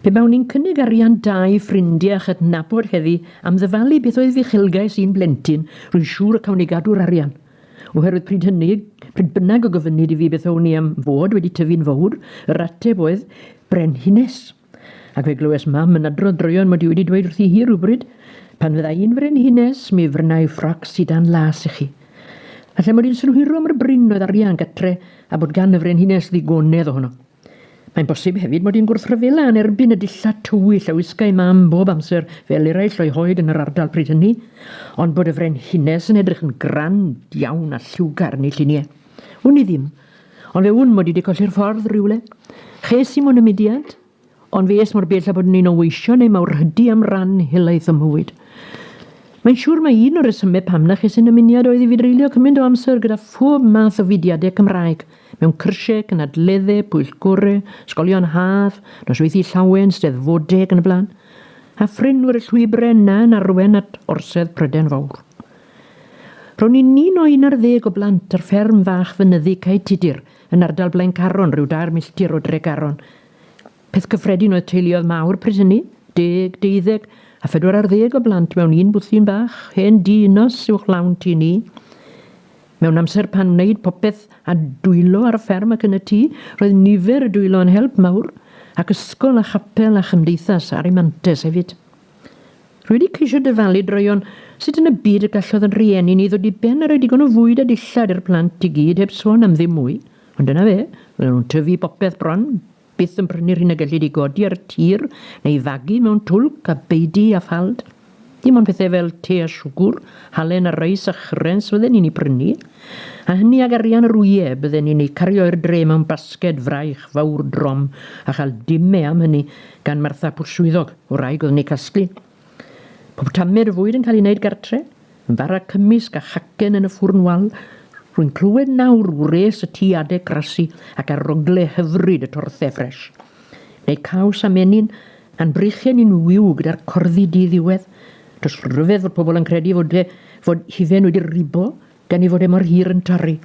Pe bawn i'n cynnig arian da i ffrindiau a chydnabod heddi am ddyfalu beth oedd uchelgais i'n blentyn, rwy'n siŵr y cawn i gadw'r arian. Oherwydd pryd hynny, pryd bynnag y gofynnid i fi beth own i am fod wedi tyfu'n fowr, yr ateb oedd, Brenhines. Ac fe glywes mam yn adrodd droeon mod i wedi dweud wrthi hi rhywbryd, pan fydda i'n frenhines, mi frynai ffroc sidan las i chi. A lle mod i'n synhwyro mor brin oedd arian gatre a bod gan y frenhines ddigonedd ohono. Mae'n bosib hefyd mod i'n gwrthryfela yn erbyn y dillad tywyll a wisgai mam bob amser fel eraill o'i hoed yn yr ardal pryd hynny, ond bod y frenhines yn edrych yn grand iawn a lliwgar yn ei lluniau. Wn i ddim. Ond fe wn mod i wedi colli'r ffordd rhywle. Ches i mo yn y mudiad, ond fe es mor bell a bod yn un o weision neu mawrhydi am ran helaeth o'm mhywyd. Mae'n siŵr mae un o'r resymau pam na ches i'n ymuniad oedd i fi dreulio cymaint o amser gyda phob math o fudiadau Cymraeg, mewn cyrsiau, cynadleddau, pwyllgorau, ysgolion haf, nosweithie llawen, steddfodau ac yn y blaen, a phrin fod y llwybrau yna yn arwain at orsedd Prydain Fawr. Ro'n i'n un o un ar ddeg o blant ar fferm fach fynyddig Cae Tudur yn ardal Blaencarron, rhyw dair milltir o Dregaron. Peth cyffredin oedd teuluoedd mawr pryd hynny, deg, deuddeg, a phedwar ar ddeg o blant mewn un bwthyn bach, hen dŷ unos uwch lawn tŷ ni. Mewn amser pan wneud popeth a dwylo ar y fferm ac yn y tŷ, roedd nifer y dwylo yn help mawr, ac ysgol a chapel a chymdeithas ar ei mantes hefyd. Rwy wedi ceisio dyfalu droeon sut yn y byd y gallodd yn rhieni ni ddod i ben a rhoi digon o fwyd a dillad i'r plant i gyd heb sôn am ddim mwy, ond dyna fe, roedden nhw'n tyfu popeth bron, byth yn prynu'r hyn y gellid ei godi ar y tir neu fagu mewn twlc a beudy a ffald. Dim ond pethau fel te a siwgwr, halen a reis a chrens fydden ni'n eu prynu, a hynny ag arian yr wyau y bydden ni'n eu cario i'r dre mewn basged fraich fawr drom a chael dime am hynny, gan Martha Pwll Swyddog, wraig oedd yn eu casglu. Pob tamed y fwyd yn cael ei wneud gartre, yn bara cymysg a chacen yn y ffwrn wal, rwy'n clywed nawr wres y tu adeg grasu ac arogle hyfryd y torthe ffres. Neu caws a menyn, a'n brychen ni'n wiw gyda'r corddi di ddiwedd. Does ryfedd fod pobl yn credu fod, fod hufen wedi ribo Gan ei fod e mor hir yn torri,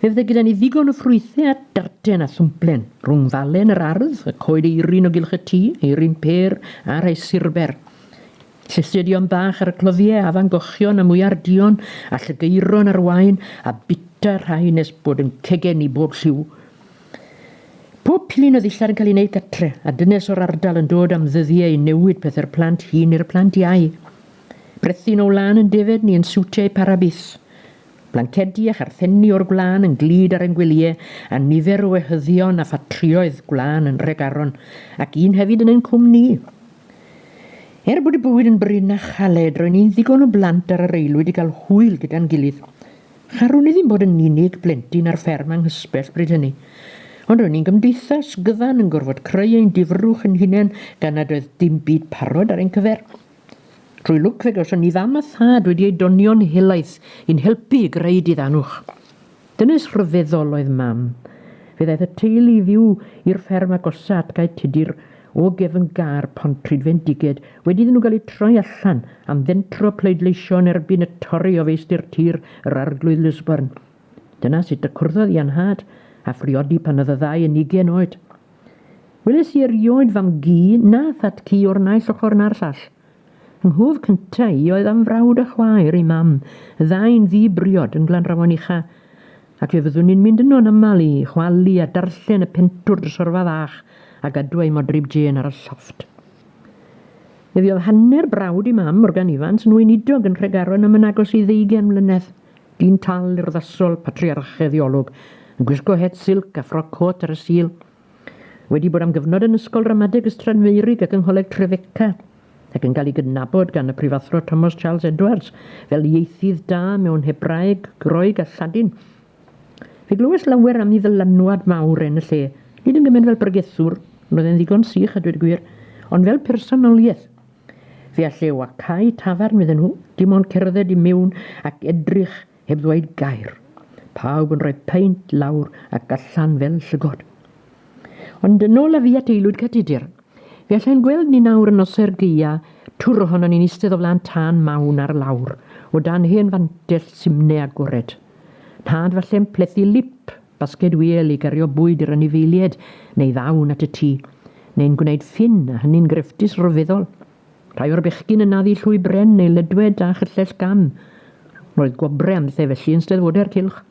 fe fydde gyda ni ddigon o ffrwythau a darten a thwmplen, rhwng falen yr ardd, y coed eirin o gylch y tŷ, eirin pêr a rhai surber, llestedion bach ar y cloddiau, afan gochion a mwyar duon, a llygeiron ar wain, a bita rhai nes bod yn cegen i bob lliw. Pob pilyn o ddillad yn cael ei wneud gatre, a dynes o'r ardal yn dod am ddyddiau i newid pethau'r plant hŷn i'r plant iau. Brethyn o wlân yn defaid ni yn siwtiau parabis. Blancedi a charthenni o'r gwlân yn glyd ar ein gwelyau, a nifer o wehyddion a ffatrïoedd gwlân yn Nhregaron, ac un hefyd yn ein cwm ni. Er bod y bywyd yn brin a chaled, ro'n ni'n ddigon o blant ar yr aelwyd i gael hwyl gyda'n gilydd. Charwn i ddim bod yn unig blentyn ar fferm anghysbell bryd hynny. Ond ro'n ni'n gymdeithas gyfan yn gorfod creu ein difrwch yn hunain gan nad oedd dim byd parod ar ein cyfer. Trwy lwc fe gawson ni fam a thad wedi eu donio'n helaeth i'n helpu i greu diddanwch. Dynes rhyfeddol oedd Mam. Fe ddaeth y teulu i fyw i'r fferm agosa at gae tudur o gefn gar pont Trydfendiged wedi iddyn nhw gael eu troi allan am fentro pleidleisio yn erbyn y Tori o feistr tir yr Arglwydd Lisburn. Dyna sut y cwrddodd i a nhad a phriodi pan oedd y ddau yn ugain oed. Weles i erioed fam gu na thad cu o'r naill ochr na'r llall. Yng nghof cynta i oedd am frawd a chwaer ei mam, y ddau'n ddu briod yn Glanrawon Ucha, ac fe fyddwn ni'n mynd yno yn aml i chwalu a darllen y pentwr drysorfa fach a gadw ei modryb Jên ar y llofft. Fe fuodd hanner brawd ei mam, Morgan Ifans, yn weinidog yn Nhregaron am yn agos i ddeugain mlynedd. Dyn tal urddasol, patriarchaidd ei olwg, yn gwisgo het silc a ffroc côt ar y Sul. Wedi bod am gyfnod yn Ysgol Ramadeg Ystradfeurig ac yng Ngholeg Trefeca, ac yn cael ei gydnabod gan y Prifathro Thomas Charles Edwards fel ieithydd da mewn Hebraeg, Groeg a Lladin. Fe glywais lawer am ei ddylanwad mawr yn y lle, nid yn gymaint fel bregethwr, roedd e'n ddigon sych a dweud y gwir, ond fel personoliaeth. Fe alleu â cau tafarn iddyn nhw, dim ond cerdded i mewn ac edrych heb ddweud gair. Pawb yn rhoi peint lawr ac allan fel llygod. Ond yn ôl â fi at Aelwyd Cadudur. Fe allai'n gweld ni nawr yn nose'r gaea twr ohonon ni'n eistedd o flaen tân mawn ar lawr o dan hen fantell simne agored. Nhad falle'n plethu lip Basged wiel i gario bwyd i'r anifeilied neu ddawn at y tŷ, neu'n gwneud ffyn, a hynny'n grefftus ryfeddol. Rhai o'r bechgyn yn naddu llwy bren neu ledwed a chyllell gam. Roedd gwobre am lle felly yn Steddfodau'r Cylch.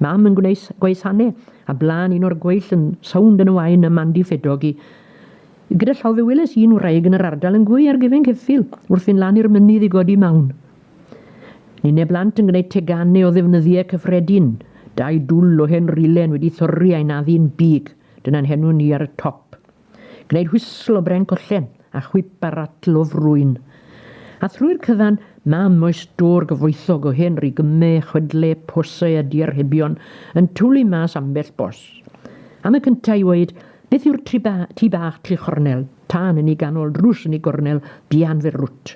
Mam yn gwneud gwaesanne, a blaen un o'r gweill yn sownd yn y wain a Mandy Ffedog i gyda llaw fe weles i un wraig yn yr ardal yn gwy ar gefen ceffyl wrth fynd lan i'r mynydd i godi mawn. Ni ne blant yn gwneud teganau o ddefnyddiau cyffredin. Dau dwl o hen rilen wedi thorri a'i naddu'n big, dyna'n henw ni ar y top. Gwneud whisl o bren collen, a chwip a ratl o frwyn. A thrwy'r cyfan, mam o'i stôr gyfoethog o hen rigymau, chwedlau, posau a diarhebion yn twlu mas ambell bos. Am y cyntaf i ŵeud, beth yw'r tŷ bach Tŷ Chornel? Tân yn ei ganol, drws yn ei gornel, dianfer rwt.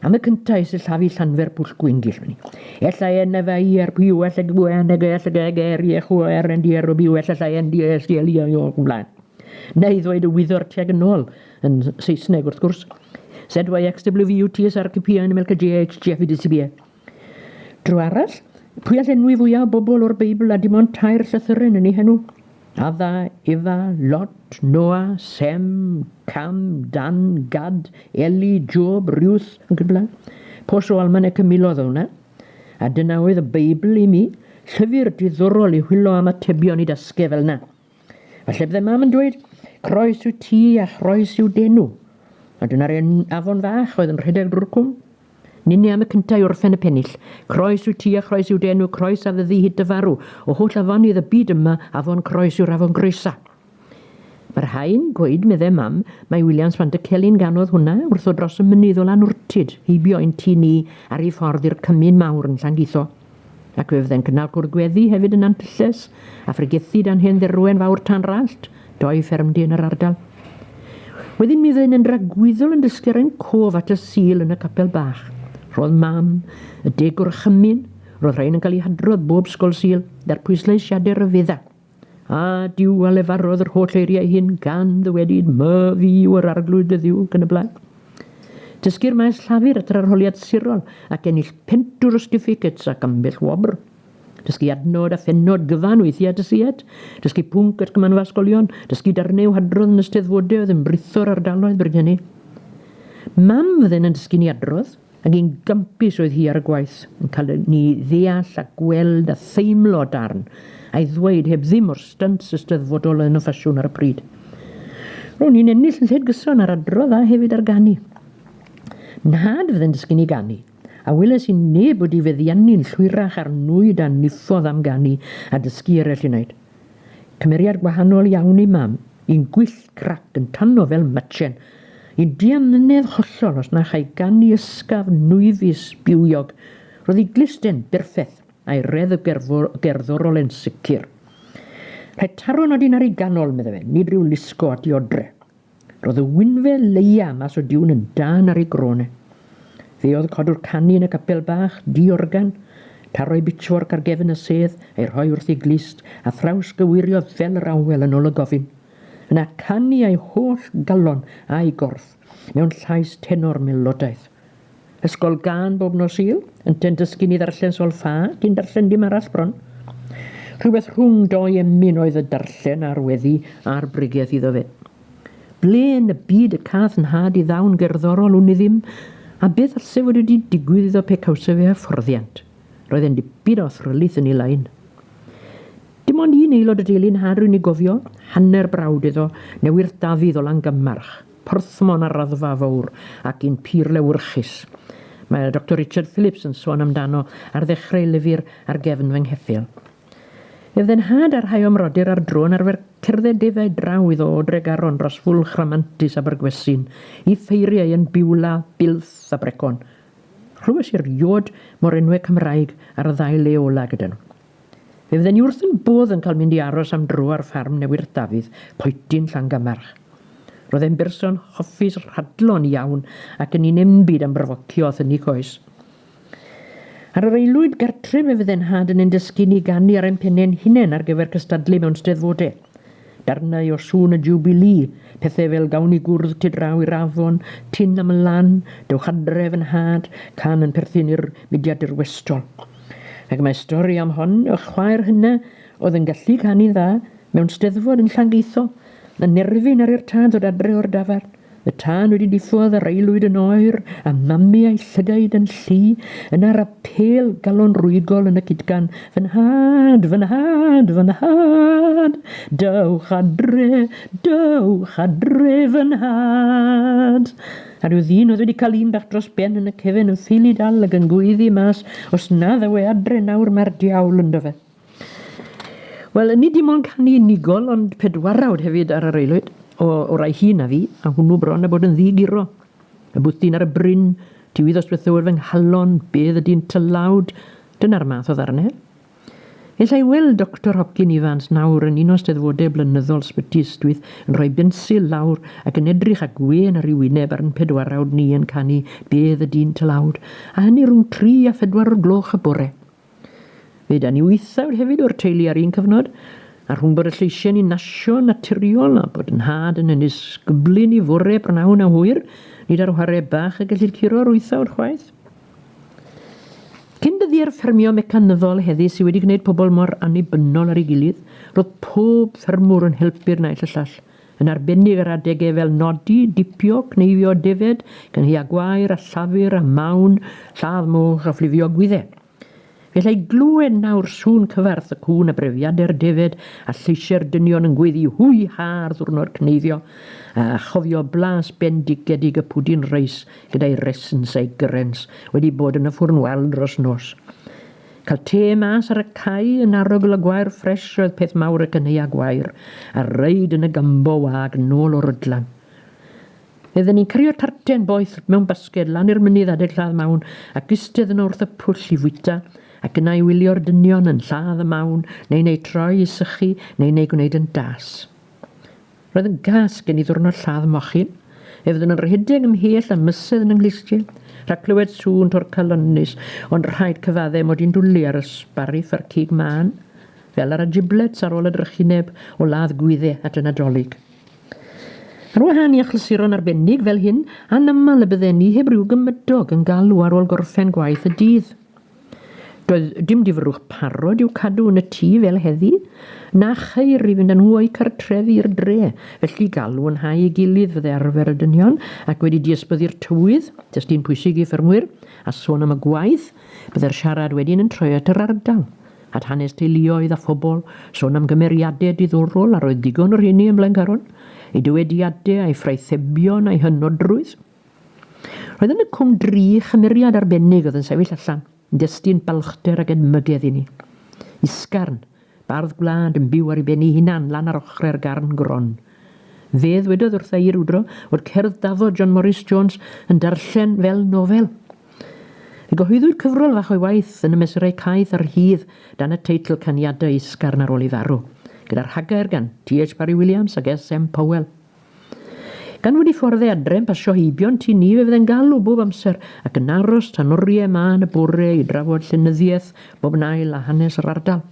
Am y cyntaf i sillafu llanfer pwll gwyngyll fyny. Ella en efa i ar pwy well ag gwe yn ege ella geg er i echu o er yn di ar o byw ella llai yn di es di elio i o'r gwmlaen. Neu ddweud y wyddor teg yn ôl yn Saesneg wrth gwrs. ZYXWVUTS ar CPA yn ymwelca GHGF i DCBA. Dro arall, pwy all enwi fwyaf o bobl o'r Beibl a dim ond tair llythyren yn ei henw? Adda, Ifa, Lot, Noa, Sem, Cam, Dan, Gad, Eli, Job, Ruth, ac yn y blaen. Pos o almanec y milodd o hwnna. A dyna oedd y Beibl i mi. Llyfr diddorol i hwylo am atebion i dasgau fel yna. Falle bydde mam yn dweud, croes yw ti a chroes yw denw. A dyna'r un afon fach oedd yn rhedeg drwy'r cwm. Ninni am y cynta i orffen y pennill. Croes yw ti a chroes yw dy enw, croes a fyddi hyd dy farw. O holl afonydd y byd yma, afon Croes yw'r afon groesa. Mae rhai'n gweud, meddai mam, mai Williams fan dy Celyn ganodd hwnna wrtho dros y mynydd o Lanwrtyd, heibio ein tŷ ni ar ei ffordd i'r cymyn mawr yn Llangeitho. Ac fe fyddai'n cynnal cwrdd gweddi hefyd yn Nantylles, a phregethid â'n hen dderwen fawr Tanrallt, doi ffermdy yn yr ardal. Wedyn mi fyddai'n yn ragwyddol yn dysgu ar ein cof at y Sul yn y capel bach. Roedd mam, y degwr a chymyn, roedd rhain yn cael eu hadrodd bob sgol Sul, er pwysleisiadau rhyfedda. A Duw a lefarodd yr holl eiriau hyn gan ddywedyd, my fi yw yr arglwydd dy ddiw, gan y blaen. Dysgu'r maes llafur at yr arholiad sirol ac ennill pentwr o stiffigets ac ambell wobr. Dysgu adnod a phennod gyfan weithiau at y sied, dysgu pwnc at gymanfa ysgolion, dysgu darnau o hadrodd yn y steddfodau oedd yn britho'r ardaloedd bryd hynny. Mam fydden yn dysgu ni adrodd, Ac yn gympus oedd hi ar y gwaith, yn cael i ni ddeall a gweld a theimlo darn, a'i ddweud heb ddim o'r stunts ysteddfodol oedd yn y ffasiwn ar y pryd. Ro'n i'n ennill lled gyson ar adrodd a hefyd ar ganu. Nhad fydde'n dysgu ni ganu, a weles i neb wedi feddiannu'n llwyrach ar nwyd a niffodd am ganu a dysgu eraill i wneud. Cymeriad gwahanol iawn i Mam. Yn gwyll grac yn tanno fel machen. Yn diamynedd hollol os na chai ganu ysgaf nwyfus bywiog. Roedd ei gluste'n berffeth, a'i redd y gerddorol yn sicr. Rhaid taro nad un ar ei ganol, medda fe, nid rhyw lusgo a diodre. Roedd y wynfe leia mas o diwn yn dân ar ei grôn e. Fe oedd codwr canu yn y capel bach, di-organ, taro'i bitchfork ar gefn y sedd, ei rhoi wrth ei glust, a thrawsgyweirio fel yr awel yn ôl y gofyn. Yna canu a'i holl galon a'i gorff, mewn llais tenor melodaidd. Ysgol gân bob nos Sul, ynteu'n dysgu ni ddarllen sol ffa, cyn darllen dim arall bron. Rhywbeth rhwng dou emyn oedd y darllen a'r weddi a'r bregeth iddo fe. Ble yn y byd y cath yn nhad i ddawn gerddorol wn i ddim, a beth allse fod wedi digwydd iddo pe cawse fe hyfforddiant? Roedd e'n dipyn o thrylith yn ei lain. Dim ond un aelod y deulu nhad rwy'n ei gofio, hanner brawd iddo, newydd Dafydd o Langymmarch, Porthmon ar raddfa fowr ac un pur lewyrchus. Mae Doctor Richard Phillips yn sôn amdano ar ddechrau ei lyfr Ar gefn fy ngheffyl. Ef dde nhad a rhai o'm mrodyr ar dro yn arfer cerdded defaid draw iddo o Dregaron dros Fwlch Rhamantus Abergwesin i ffeirio ei yn Biwla, Bilth, a Brecon. Rhywes i'r iod mo'r enwe Cymraeg ar y ddau le ola gyda nhw. Fe fydden i wrth yn bodd yn cael mynd i aros am dro ar ffarm Newy'r Dafydd, Poetyn, Llangamarch. Roedd e'n berson hoffus rhadlon iawn ac yn un enbyd am brofocio a thynnu coes. Ar yr aelwyd gartref fe fydde nhad yn ein dysgu ni ganu ar ein penne ein hunain ar gyfer cystadlu mewn steddfode. Darnau o sŵn y Jiwbilî, pethe fel gawn ni gwrdd tu draw i'r afon, tyn am y lan, dewch adre fy nhad, can yn perthyn i'r mudiad dirwestol. Ac mae stori am hon, y chwaer hynna oedd yn gallu canu'n dda mewn steddfod yn Llangeitho, yn nerfyn ar i'r tad ddod adre o'r dafarn. Y tân wedi diffodd yr aelwyd yn oer a mamu a'i llygaid yn llu, yna rapêl galonrwyigol yn y cydgan, Fy nhad! Fy nhad! Fy nhad! Dewch adre! Dewch adre! Fy nhad! A rhyw ddyn oedd wedi cael un bach dros ben yn y cefen yn ffili dal ac yn gweiddi mas, Os na ddaw e adre nawr mae'r diawl ynddo fe. Wel, nid dim ond canu unigol, ond pedwarawd hefyd ar yr aelwyd, o, o rai hi na fi, a hwnnw bron a bod yn ddi-guro. Y bwthyn ar y bryn, tiwydd os bethywr fy nghalon, bedd y dyn tylawd, dyna'r math o ddarnau. Ella i weld Doctor Hopkin Ifans nawr yn un o steddfodau blynyddol Sbyty Ystwyth yn rhoi bensil lawr ac yn edrych â gwên ar ei wyneb ar yn pedwarawd ni yn canu Bedd y Dyn Tylawd, a hynny rhwng tri a phedwar o'r gloch y bore. Fe dan ni wythawd hefyd o'r teulu ar un cyfnod, a rhwng bod y lleisiau'n un nasio'n naturiol a bod nhad yn yn ysgyblu ni fore prynhawn a hwyr, nid ar whare bach y gellid curo'r wythawd chwaith. Cyn dyddiau'r ffermio mecanyddol heddi sydd wedi gwneud pobl mor annibynnol ar ei gilydd, roedd pob ffermwr yn helpu'r naill y llall, yn arbennig ar adegau fel nodi, dipio, cneifio, defaid, cynhaea gwair a llafur a mawn, lladd moch a phlifio gwydde. Fe allai glywed nawr sŵn cyfarth y cŵn a brefiadau'r defaid a lleisiau'r dynion yn gweddu hwy ha ar ddwrnod cneifio, a chofio blas bendigedig y pwdin reis gyda'i resns a'i gyrrens wedi bod yn y ffwrn wal dros nos. Cael te mas ar y cae yn arogl y gwair ffresh oedd peth mawr ac yn heia gwair, a reid yn y gumbo wag nôl o Rydlan. Oedden ni'n cario tarten boeth mewn basged lan i'r mynydd adeg lladd mawn ac istedd yno wrth y pwll i fwyta ac yna i wylio'r dynion yn lladd y mawn neu'n eu troi i sychu neu'n eu gwneud yn das. Roedd yn gas gen i ddiwrnod lladd mochyn, ef ddim yn rhedeg ymhell a mysedd yn 'y nghlustie, rhag clywed sŵn to'r calonnus, ond rhaid cyfadde mod i'n dwli ar y sbariff a'r cig mân, fel ar y giblets ar ôl y drychineb o ladd gwydde at y Nadolig. Ar wahân i achlysuron arbennig fel hyn, anaml y bydden ni heb ryw gymydog yn galw ar ôl gorffen gwaith y dydd. Doedd dim difrwch parod i'w cadw yn y tŷ fel heddi, na cheir i fynd â nhw o'u cartrefi i'r dre, felly galwynhau ei gilydd fydde arfer y dynion, ac wedi diysbyddu'r tywydd, testun pwysig i ffermwyr, a sôn am y gwaith, bydde'r siarad wedyn yn troi at yr ardal, at hanes teuluoedd a phobl, sôn am gymeriade diddorol a roedd digon o rheiny ym Mlaencaron, eu dywediade, a'u ffraithebion a'u hynodrwydd. Roedd yn y Cwm Dri chymeriad arbennig oedd yn sefyll allan, yn destun balchder ac edmygedd i ni. Isgarn, bardd gwlad yn byw ar ei ben ei hunan lan ar ochre'r garn gron. Fe ddwedodd wrtha i rywdro fod cerdd daddo John Morris Jones yn darllen fel nofel. Fe gyhoeddwyd cyfrol fach o'i waith yn y mesurau caeth a rhydd dan y teitl Caniadau Isgarn ar ôl ei farw, gyda rhagair gan TH Parry Williams ac SM Powell. Gan fod y ffordd adre'n pasio heibion tŷ ni fe fydde'n galw bob amser ac yn aros tan oriau mân y bore i drafod llenyddiaeth bob yn ail a hanes yr ardal.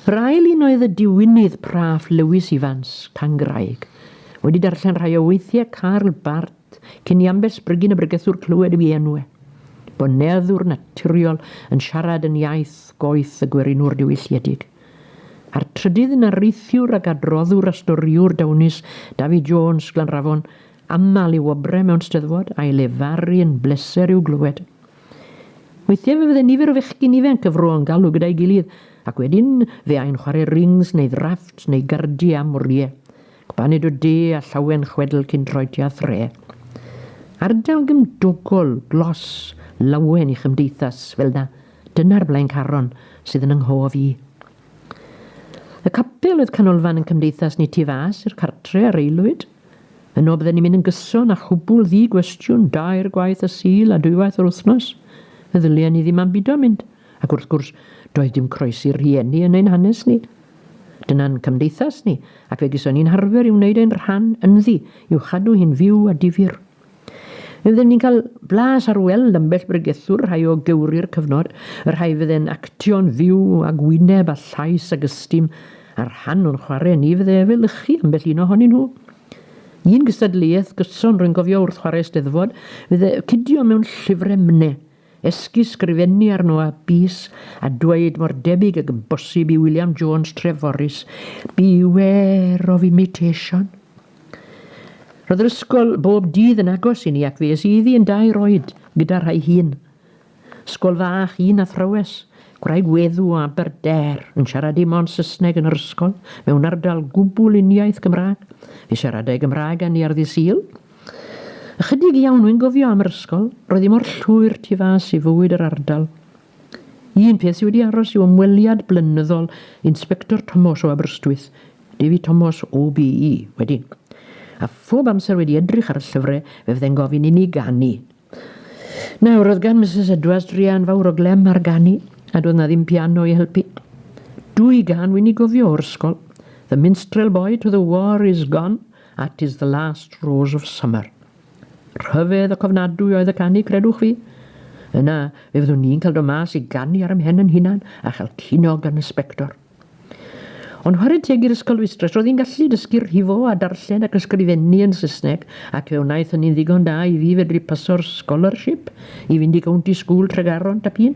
Yr ail un oedd y diwinydd praff Lewis Ifans, Cangraig. Wedi darllen rhai o weithiau Karl Barth, Cyn i Amber Spriggan y bregethwr clywed ei enw e, bo neddwr naturiol yn siarad yn iaith goeth y gwerinwr diwylliedig. A'r trydydd yn areithiwr ac adroddwr a storiwr dawnus, David Jones, Glanrafon, aml ei wobrau mewn steddfod, a'i lefaru yn bleser i'w glywed. Weithiau fe fydde nifer o fechgyn ifenc y fro yn galw gyda'i gilydd, ac wedyn fe ai'n chwarae rings neu ddraffts neu gardiau am oriau. Baned o de a llawen chwedl cyn troedi â thre. Ardal gymdogol, glos, lawen i chymdeithas, fel na, dyna'r Blaencaron sydd yn 'y nghof i. Y capel oedd canolfan yn cymdeithas ni tu fas i'r cartre a reilwyd. Yno bydden ni'n mynd yn gyson a chwbwl ddi-gwestiwn, dair gwaith y Sul a dwywaith yr wythnos. Fe ddylien ni ddim ambido mynd. Ac wrth gwrs, doedd dim croesi rhieni yn ein hanes ni. Dyna'n cymdeithas ni, ac fe geson ni'n harfer i wneud ein rhan ynddi i'w chadw hi'n fyw a difyr. Fe fydden ni'n cael blas ar weld ambell bregethwr, rhai o gewri'r cyfnod, y rhai fydde'n actio'n fyw ag wyneb a llais ag ystum, a rhan o'n chwarae ni fydde efelychu ambell un ohonyn nhw. Un gystadleuaeth gyson rwy'n gofio wrth chwarae Steddfod, fydde cidio mewn llyfrau mne, Esgus sgrifennu arno a bys a dweud mor debyg ag yn bosib i William Jones Treforys, Beware of imitation. Roedd yr ysgol bob dydd yn agos i ni ac fe es i iddi yn dair oed gyda rhai hun. Sgol fach un athrawes, gwraig weddw o Aberdare, yn siarad dim ond Saesneg yn yr ysgol, mewn ardal gwbl uniaith Gymraeg. Fe siaradai Gymraeg â ni ar ddydd Sul. Ychydig iawn wy'n gofio am yr ysgol, roedd hi mor llwyr tu fas i fywyd yr ardal. Un peth sydd wedi aros yw ymweliad blynyddol Inspector Tomos o Aberystwyth, David Tomos OBE, wedyn. A phob amser wedi edrych ar y llyfrau fe fyddai'n gofyn inni ganu. Nawr, oedd gan Misus Edwards druan fawr o glem ar ganu, a doedd na ddim piano i helpu. Dwy gan wi'n i gofio o'r ysgol, The Minstrel Boy to the War is Gone a 'Tis the Last Rose of Summer. Rhyfedd y cofnadwy oedd y canu, credwch fi. Yna, fe fyddwn ni'n cael do mas i ganu ar ymhen yn hunan a chael cino gan y sbector. Ond whare teg i'r ysgol fistress, roedd hi'n gallu dysgu rhifo a darllen ac ysgrifennu yn Saesneg ac fe wnaeth hynny'n ddigon da i fi fedru paso'r scholarship i fynd i County School Tregaron Tap Un.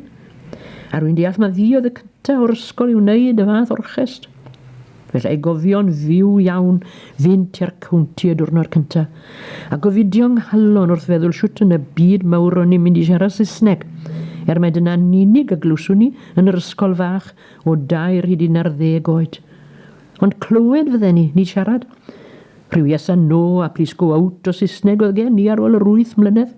A rwy'n deall mai fi oedd y cyntaf o'r ysgol i wneud y fath orchest. Fe allai gofio'n fyw iawn fynd tua'r county y diwrnod cyntaf a gofidio nghalon wrth feddwl shwt yn y byd mawr ro'n i'n mynd i siarad Saesneg, er mai dyna'n unig y glywswn i yn yr ysgol fach o dair hyd un ar ddeg oed. Ond clywed fydden ni, nid siarad. Rhyw yes and no a please go out o Saesneg oedd gen i ar ôl yr wyth mlynedd.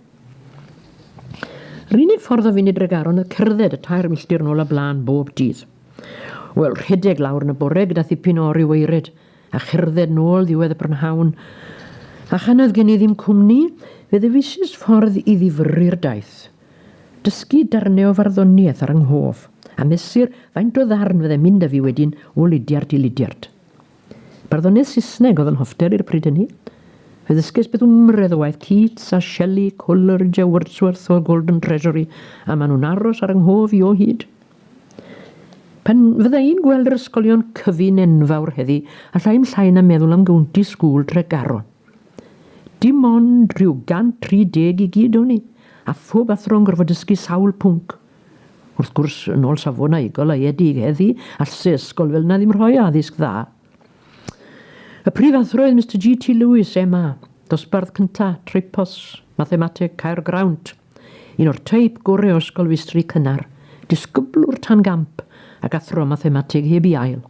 Yr unig ffordd o fynd i Dregaron oedd cerdded y tair milltir nôl a blaen bob dydd. Wel, rhedeg lawr yn y bore gyda thipyn o oriw weired, a cherdded nôl ddiwedd y prynhawn. A chan oedd gen i ddim cwmni, fe ddewisis ffordd i ddifyrru'r daith. Dysgu darnau o farddoniaeth ar 'y nghof, a mesur faint o ddarn fyddai'n mynd â fi wedyn o ludiart i ludiart. Barddoniaeth Saesneg oedd 'y nhofter i ar y pryd hynny. Fe ddysges beth yw mredd o waith Keats a Shelley, Coleridge a Wordsworth o'r Golden Treasury, a maen nhw'n aros ar 'y nghof i o hyd. Pan fydda i'n gweld yr ysgolion cyfun enfawr heddi, alla i'm llai na meddwl am Gownty School, Tregaron. Dim ond rhyw 130 i gyd o'n i, a phob athro'n gorfod dysgu sawl pwnc. Wrth gwrs, yn ôl safonau goleuedig heddi, all se ysgol fel 'na ddim rhoi addysg dda. Y prif athro oedd Mister GT Lewis, MA, dosbarth cynta, Tripos, Mathemateg, Caergrawnt, un o'r teip gore o ysgol feistri cynnar, disgyblwr tan gamp, ac athro Mathemateg heb 'i ail.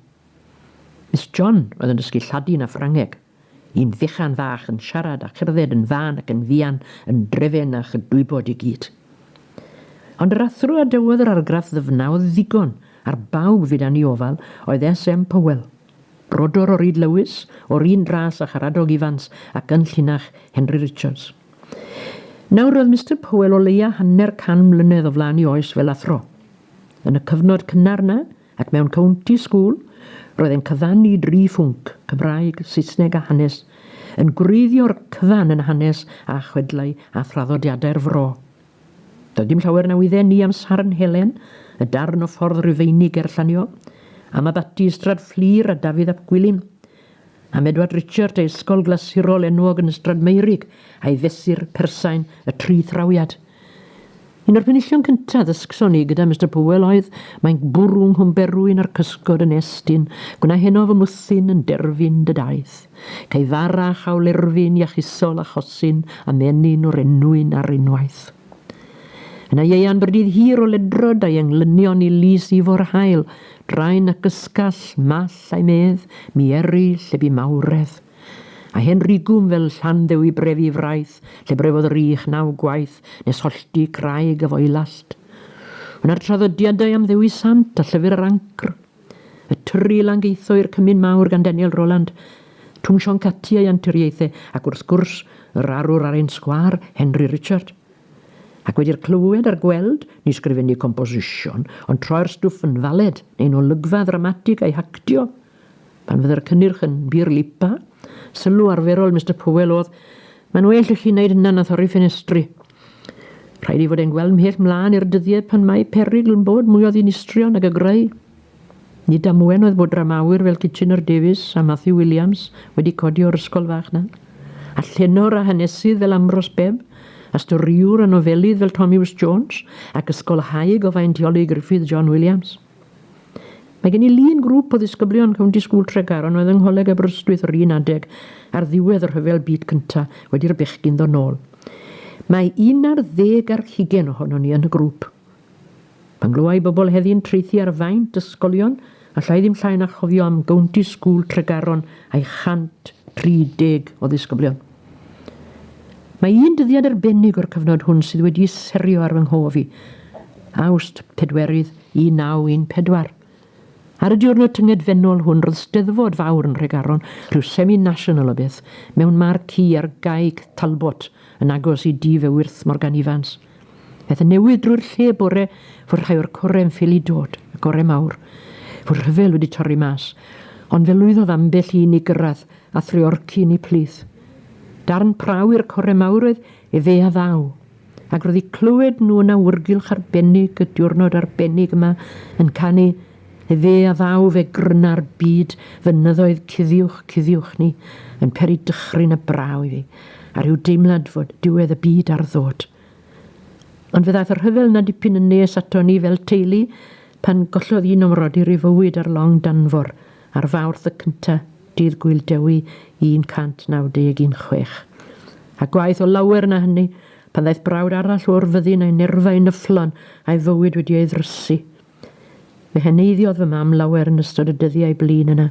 Miss John oedd yn dysgu Lladin a Ffrangeg. Un fychan fach yn siarad a cherdded yn fân ac yn fuan yn drefen a chydwybod i gyd. Ond yr athro a dyweodd yr argraff ddyfnaodd ddigon ar bawb fyd â ni ofal oedd SM Powell, brodor o Ryd Lewis, o'r un ras â Charadog Ifans ac yn llinach Henry Richards. Nawr roedd Mister Powell o leia hanner can mlynedd o flaen i oes fel athro. Yn y cyfnod cynnar 'na, Ac mewn county school, roedd e'n cyfannu dri phwnc, Cymraeg, Saesneg a hanes, yn gwreiddio'r cyfan yn hanes a chwedlau a thraddodiadau'r fro. Doedd dim llawer na wydden ni am Sarn Helen, y darn o ffordd Rufeinig ger Llanio, am Abaty Ystrad Fflur a Dafydd ap Gwilym, am Edward Richard ei ysgol glasurol enwog yn Ystrad Meurig a'i fesur persain y tri thrawiad. Un o'r penillion cyntaf ddysgson ni gyda Mister Powell oedd, mae'n bwrw nghwm berwyn a'r cysgod yn estyn, gwna heno fy mwthyn yn derfyn dy daith. Cei fara a chawl erfyn iachusol a chosyn a menyn o'r enwyn ar unwaith. Yna ieuan byrdydd hir o ledrod a'i englynion i lys ifo'r haul, draen ac ysgall, mall a'i medd, mi eri lle bu mawredd. A hen rigwm fel Llanddewi brefi fraith, lle brefodd yr ych naw gwaith, nes hollti craig a foelast. Yna'r traddodiadau am Ddewi Sant a llyfr yr ancr. Y tyrri lan geitho i'r cymun mawr gan Daniel Roland, Twm Sion Cati a'i anturiaethau, ac wrth gwrs, yr arwr ar ein sgwâr, Henry Richard. Ac wedi'r clywed a'r gweld, ni sgrifennu composition, ond troi'r stwff yn faled, neu'n olygfa ddramatig a'i hactio. Pan fydde'r cynnyrch yn bur lipa, sylw arferol Mister Powell oedd, Mae'n well i chi wneud hynna na thorri ffenestri. Rhaid i fod e'n gweld mhell mlaen i'r dyddiau pan mae perygl yn bod mwy o ddinistrion nag y greu. Nid am ŵen oedd bod dramawyr fel Kitchener Davies a Matthew Williams wedi codi o'r ysgol fach na, a llenor a hanesydd fel Ambrose Bebb, a storïwr a nofelydd fel Tommy Wis Jones, ac ysgolhaig o faintiolig Gruffydd John Williams. Mae gen i lun grŵp o ddisgyblion County School Tregar yn oedd yng Ngholeg Aberystwyth yr un adeg ar ddiwedd y rhyfel byd cynta wedi i'r bechgyn ddod nôl. Mae un ar ddeg ar hugen ohonon ni yn y grŵp. Pan glywa i bobl heddi'n traethu ar faint ysgolion, alla i ddim llai na chofio am Gownty Sgŵl Tregaron a'i 130 o ddisgyblion. Mae un dyddiad arbennig o'r cyfnod hwn sydd wedi serio ar fy nghof i, Awst, Pedwerydd, 1914. Ar y diwrnod tyngedfennol hwn roedd steddfod fawr yn Nhregaron, rhyw semi-national o beth, mewn marci ar Gae Talbot, yn agos i dŷ fy wyrth Morgan Ifans. Aeth y newydd drwy'r lle bore fod rhai o'r core yn ffili dod, y gore mawr. Fod rhyfel wedi torri mas, ond fe lwyddodd ambell un i gyrraedd a threorci yn ei plith. Darn praw i'r core mawr oedd efe a ddaw, ac roedd i clywed nhw yn awyrgylch arbennig y diwrnod arbennig yma yn canu Efe a ddaw fe gryna'r byd fynyddoedd cuddiwch cuddiwch ni yn peri dychryn a braw i fi, a rhyw deimlad fod diwedd y byd ar ddod. Ond fe ddaeth y rhyfel yna dipyn yn nes ato ni fel teulu pan gollodd un o'm mrodyr ei fywyd ar long Danfor ar Fawrth y cynta, Dydd Gŵyl Dewi 191 chwech. A gwaeth o lawer na hynny, pan ddaeth brawd arall o'r fyddin a'i nerfau yn yfflon a'i fywyd wedi ei ddrysu. Fe heneiddiodd fy mam lawer yn ystod y dyddiau blin yna,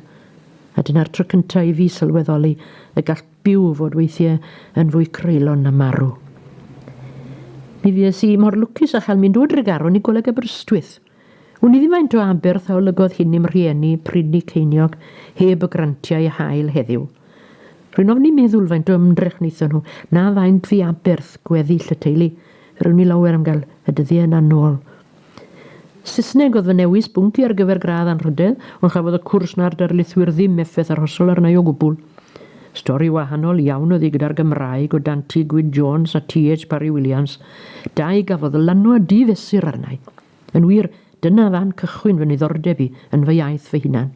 a dyna'r tro cyntaf i fi sylweddoli y gall byw fod weithiau yn fwy creulon na marw. Mi fues i mor lwcus â chael mynd o Dregaron i Goleg Aberystwyth. Wn i ddim faint o aberth a olygodd hyn i'm rhieni pryd ni ceiniog heb y grantiau a hael heddiw. Rwy'n ofni meddwl faint o ymdrech wnaethon nhw, na faint fu aberth gweddill y teulu, ryw ni lawer am gael y dyddiau yna nôl. Saesneg oedd fy newis bwnc i ar gyfer gradd anrhydedd, ond chafodd y cwrs na'r darlithwyr ddim effaith arhosol arna i o gwbl. Stori wahanol iawn oedd hi gyda'r Gymraeg o dan Ti Gwyn Jones a TH Parry Williams, dau gafodd lanwad di-fesur arna i. Yn wir, dyna fan cychwyn fy niddordeb i yn fy iaith fy hunan.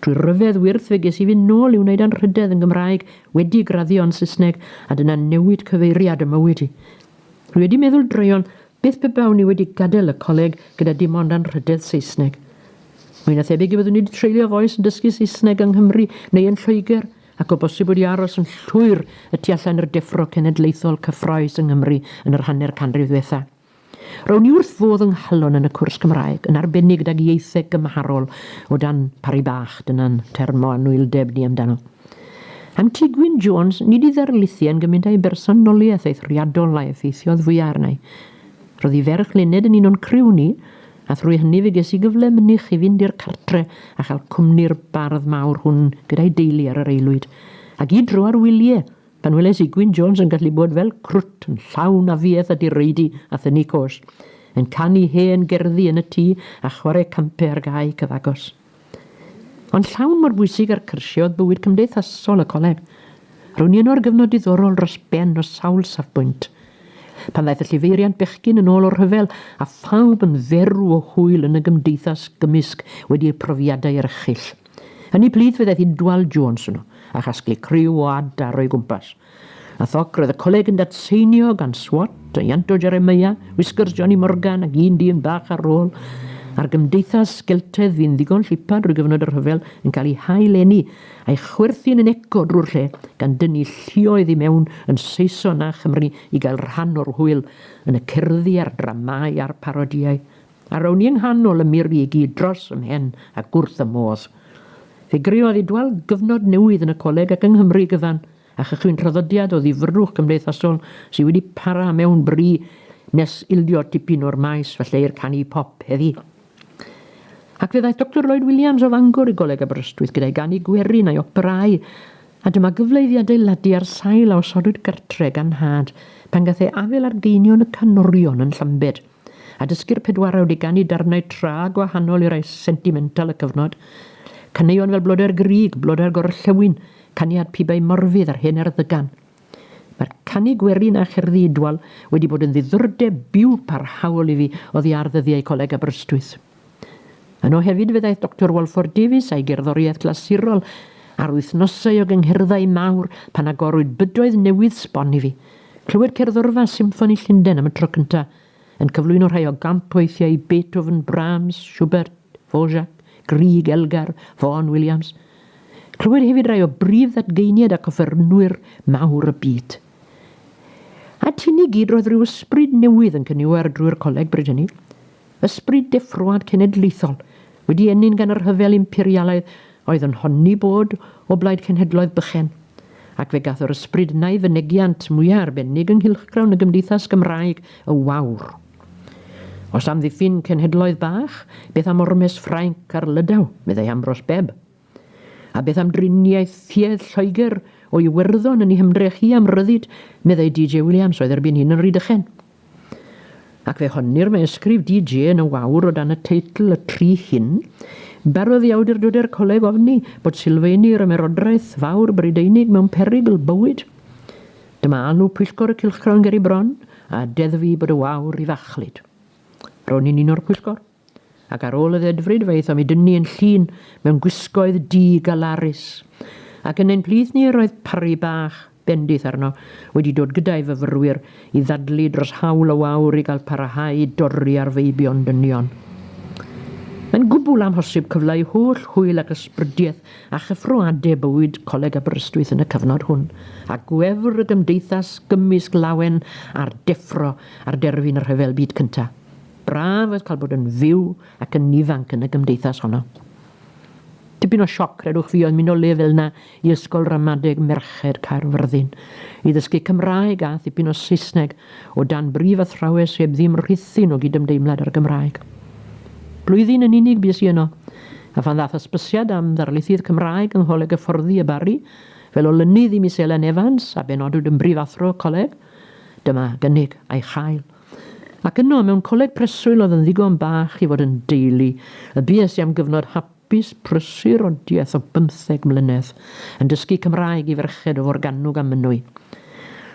Trwy ryfedd wyrth fe ges i fynd nôl i wneud anrhydedd yn Gymraeg wedi graddio yn Saesneg a dyna newid cyfeiriad ym mywyd i. Dwi wedi meddwl droeon Beth pe bawn i wedi gadael y coleg gyda dim ond anrhydedd Saesneg? Mwy na thebyg y byddwn i wedi treulio fy oes yn dysgu Saesneg yng Nghymru neu yn Lloegr, ac o bosib wedi aros yn llwyr y tu allan i'r deffro cenedlaethol cyffrous yng Nghymru yn yr hanner canrif ddwetha. Rown i wrth fodd yng nghalon yn y cwrs Cymraeg, yn arbennig gydag ieitheg gymharol o dan Parry Bach, dyna'n term o anwyldeb ni amdano. Am Tŷ Gwyn Jones, nid i ddarlithu yn gymint a'i bersonoliaeth eithriadol a effeithiodd fwya arna i. Roedd hi ferch Luned yn un o'n criw ni, a thrwy hynny fe ges i gyfle mynych i fynd i'r cartre a chael cwmni'r bardd mawr hwn gyda'i deulu ar yr aelwyd, a gyd dro ar wylie, pan weles i Gwyn Jones yn gallu bod fel crwt yn llawn afiaeth a direidi a thynnu cos, yn canu hen gerddi yn y tŷ a chware campe ar gae cyfagos. Ond llawn mor bwysig â'r cyrsiau oedd bywyd cymdeithasol y coleg. Ro'n i yno ar gyfnod diddorol dros ben o sawl safbwynt. Pan ddaeth y llifeiriant bechgyn yn ôl o'r rhyfel, a phawb yn dderw o hwyl yn y gymdeithas gymysg wedi eu profiadau erchyll. Yn ei blith fe ddaeth Idwal Jones yno, a chasglu criw o adar o'i gwmpas. A thoc, roedd y coleg yn datseinio gan Swat, a Ianto Jeremiah, Whiskers Johnny Morgan ac un dyn bach ar rôl, a'r gymdeithas geltaidd fu'n ddigon llipa drwy gyfnod y rhyfel yn cael ei hail-eni a'i chwerthin yn eco drwy'r lle, gan dynnu lluoedd i mewn yn Saeson a Chymru i gael rhan o'r hwyl yn y cerddi a'r dramâu a'r parodïau. A rown i yng nghanol y mur i gyd dros fy mhen ac wrth fy modd. Fe greodd Idwal gyfnod newydd yn y coleg ac yng Nghymru gyfan, a chychwyn traddodiad o ddifyrrwch cymdeithasol sydd wedi para mewn bri nes ildio tipyn o'r maes falle i'r canu pop heddi. Ac fe ddaeth Doctor Lloyd Williams o Fangor i Goleg Aberystwyth gyda'i ganu gwerin a'i operâu, a dyma gyfle iddi adeiladu ar sail a osodwyd gartre gan nhad pan gath ei afel ar geinion y canorion yn Llambed. a dysgu'r pedwarawd i ganu darnau tra gwahanol i rai sentimental y cyfnod, caneuon fel Blodau'r Grug, Blodau'r Gorllewin, Caniad Pibau Morfudd a'r Hen Erddygan. Mae'r canu gwerin a cherddi Idwal wedi bod yn ddiddordeb byw parhaol i fi oddi ar ddyddiau Coleg Aberystwyth. Yno hefyd fe ddaeth Doctor Walford Davies a'i gerddoriaeth glasurol ar wythnosau o gyngherddau mawr pan agorwyd bydoedd newydd sbon i fi. Clywed cerddorfa Symffoni Llundain am y tro cyntaf, yn cyflwyno rhai o gampweithiau Beethoven, Brahms, Schubert, Dvorak, Grieg, Elgar, Vaughan, Williams. Clywed hefyd rai o brif ddadgeiniad ac offerynwyr mawr y byd. At hyn i gyd roedd rhyw ysbryd newydd yn cyniwar drwy'r coleg bryd hynny. Ysbryd deffroad cenedlaethol, wedi ennyn gan y rhyfel imperialaidd oedd yn honni bod o blaid cenhedloedd bychen, ac fe gath yr ysbryd yna ei fynegiant mwyaf arbennig yng nghylchgrawn y gymdeithas Gymraeg y Wawr. Os amddiffyn cenhedloedd bach, beth am ormes Ffrainc ar Lydaw, meddai Ambrose Bebb? A beth am driniaeth tuedd Lloegr o Iwerddon yn ei hymdrech hi am ryddid, meddai DJ Williams, oedd erbyn hyn yn Rhydychen? Ac fe honnir mae ysgrif DJ yn y wawr o dan y teitl Y Tri Hyn. Barodd i awdurdodau'r coleg ofni bod sylfeini yr Ymerodraeth Fawr Brydeinig mewn perygl bywyd. Dyma alw pwyllgor y cylchgrawn ger i bron, a deddfu bod y wawr i fachlud. Ro'n i'n un o'r pwyllgor. Ac ar ôl y ddedfryd fe aethom i dynnu yn llun mewn gwisgoedd du galarus, ac yn ein plith ni yr oedd Parri bach, bendith arno, wedi dod gyda'i fyfyrwyr i ddadlu dros haul o wawr i gael parahau i dorri ar feibion dynion. Mae'n gwbl amhosib cyfleu holl hwyl ac ysbrydiaeth a chyffro ade bywyd Coleg Aberystwyth yn y cyfnod hwn, a gwefr y gymdeithas gymysg lawen a'r deffro ar derfyn y Rhyfel Byd Cyntaf. Braf oedd cael bod yn fyw ac yn ifanc yn y gymdeithas honno. Tipyn o sioc, credwch fi, oedd mynd o le fel 'na i Ysgol Ramadeg Merched Caerfyrddin i ddysgu Cymraeg a thipyn o Saesneg o dan brif athrawes heb ddim rhithyn o gydymdeimlad â'r Gymraeg. Blwyddyn yn unig bues i yno, a phan ddaeth hysbysiad am ddarlithydd Cymraeg yng Ngholeg Hyfforddi y Barri fel olynydd i Miss Elen Evans a benodwyd yn brifathro coleg, dyma gynnig a'i chael. Ac yno, mewn coleg preswyl oedd yn ddigon bach i fod yn deulu, y bues i am gyfnod hapus prysur o diaeth o bymtheg mlynedd, yn dysgu Cymraeg i ferched o Forgannwg a Mynwy.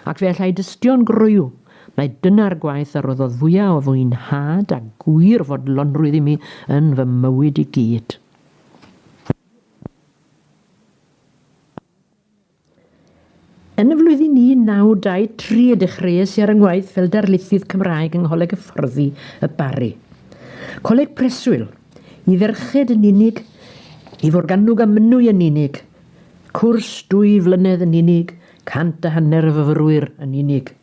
Ac fe allai dystio'n groyw mai dyna'r gwaith a roddodd fwya o fwynhad a gwir fodlonrwydd i mi yn fy mywyd i gyd. Yn y flwyddyn 1923 y dechreuais i ar 'y ngwaith fel darlithydd Cymraeg yng Ngholeg Hyfforddi y Barri. Coleg preswyl, i ferched yn unig, i Forgannwg a Mynwy yn unig, cwrs dwy flynedd yn unig, cant a hanner o fyfyrwyr yn unig.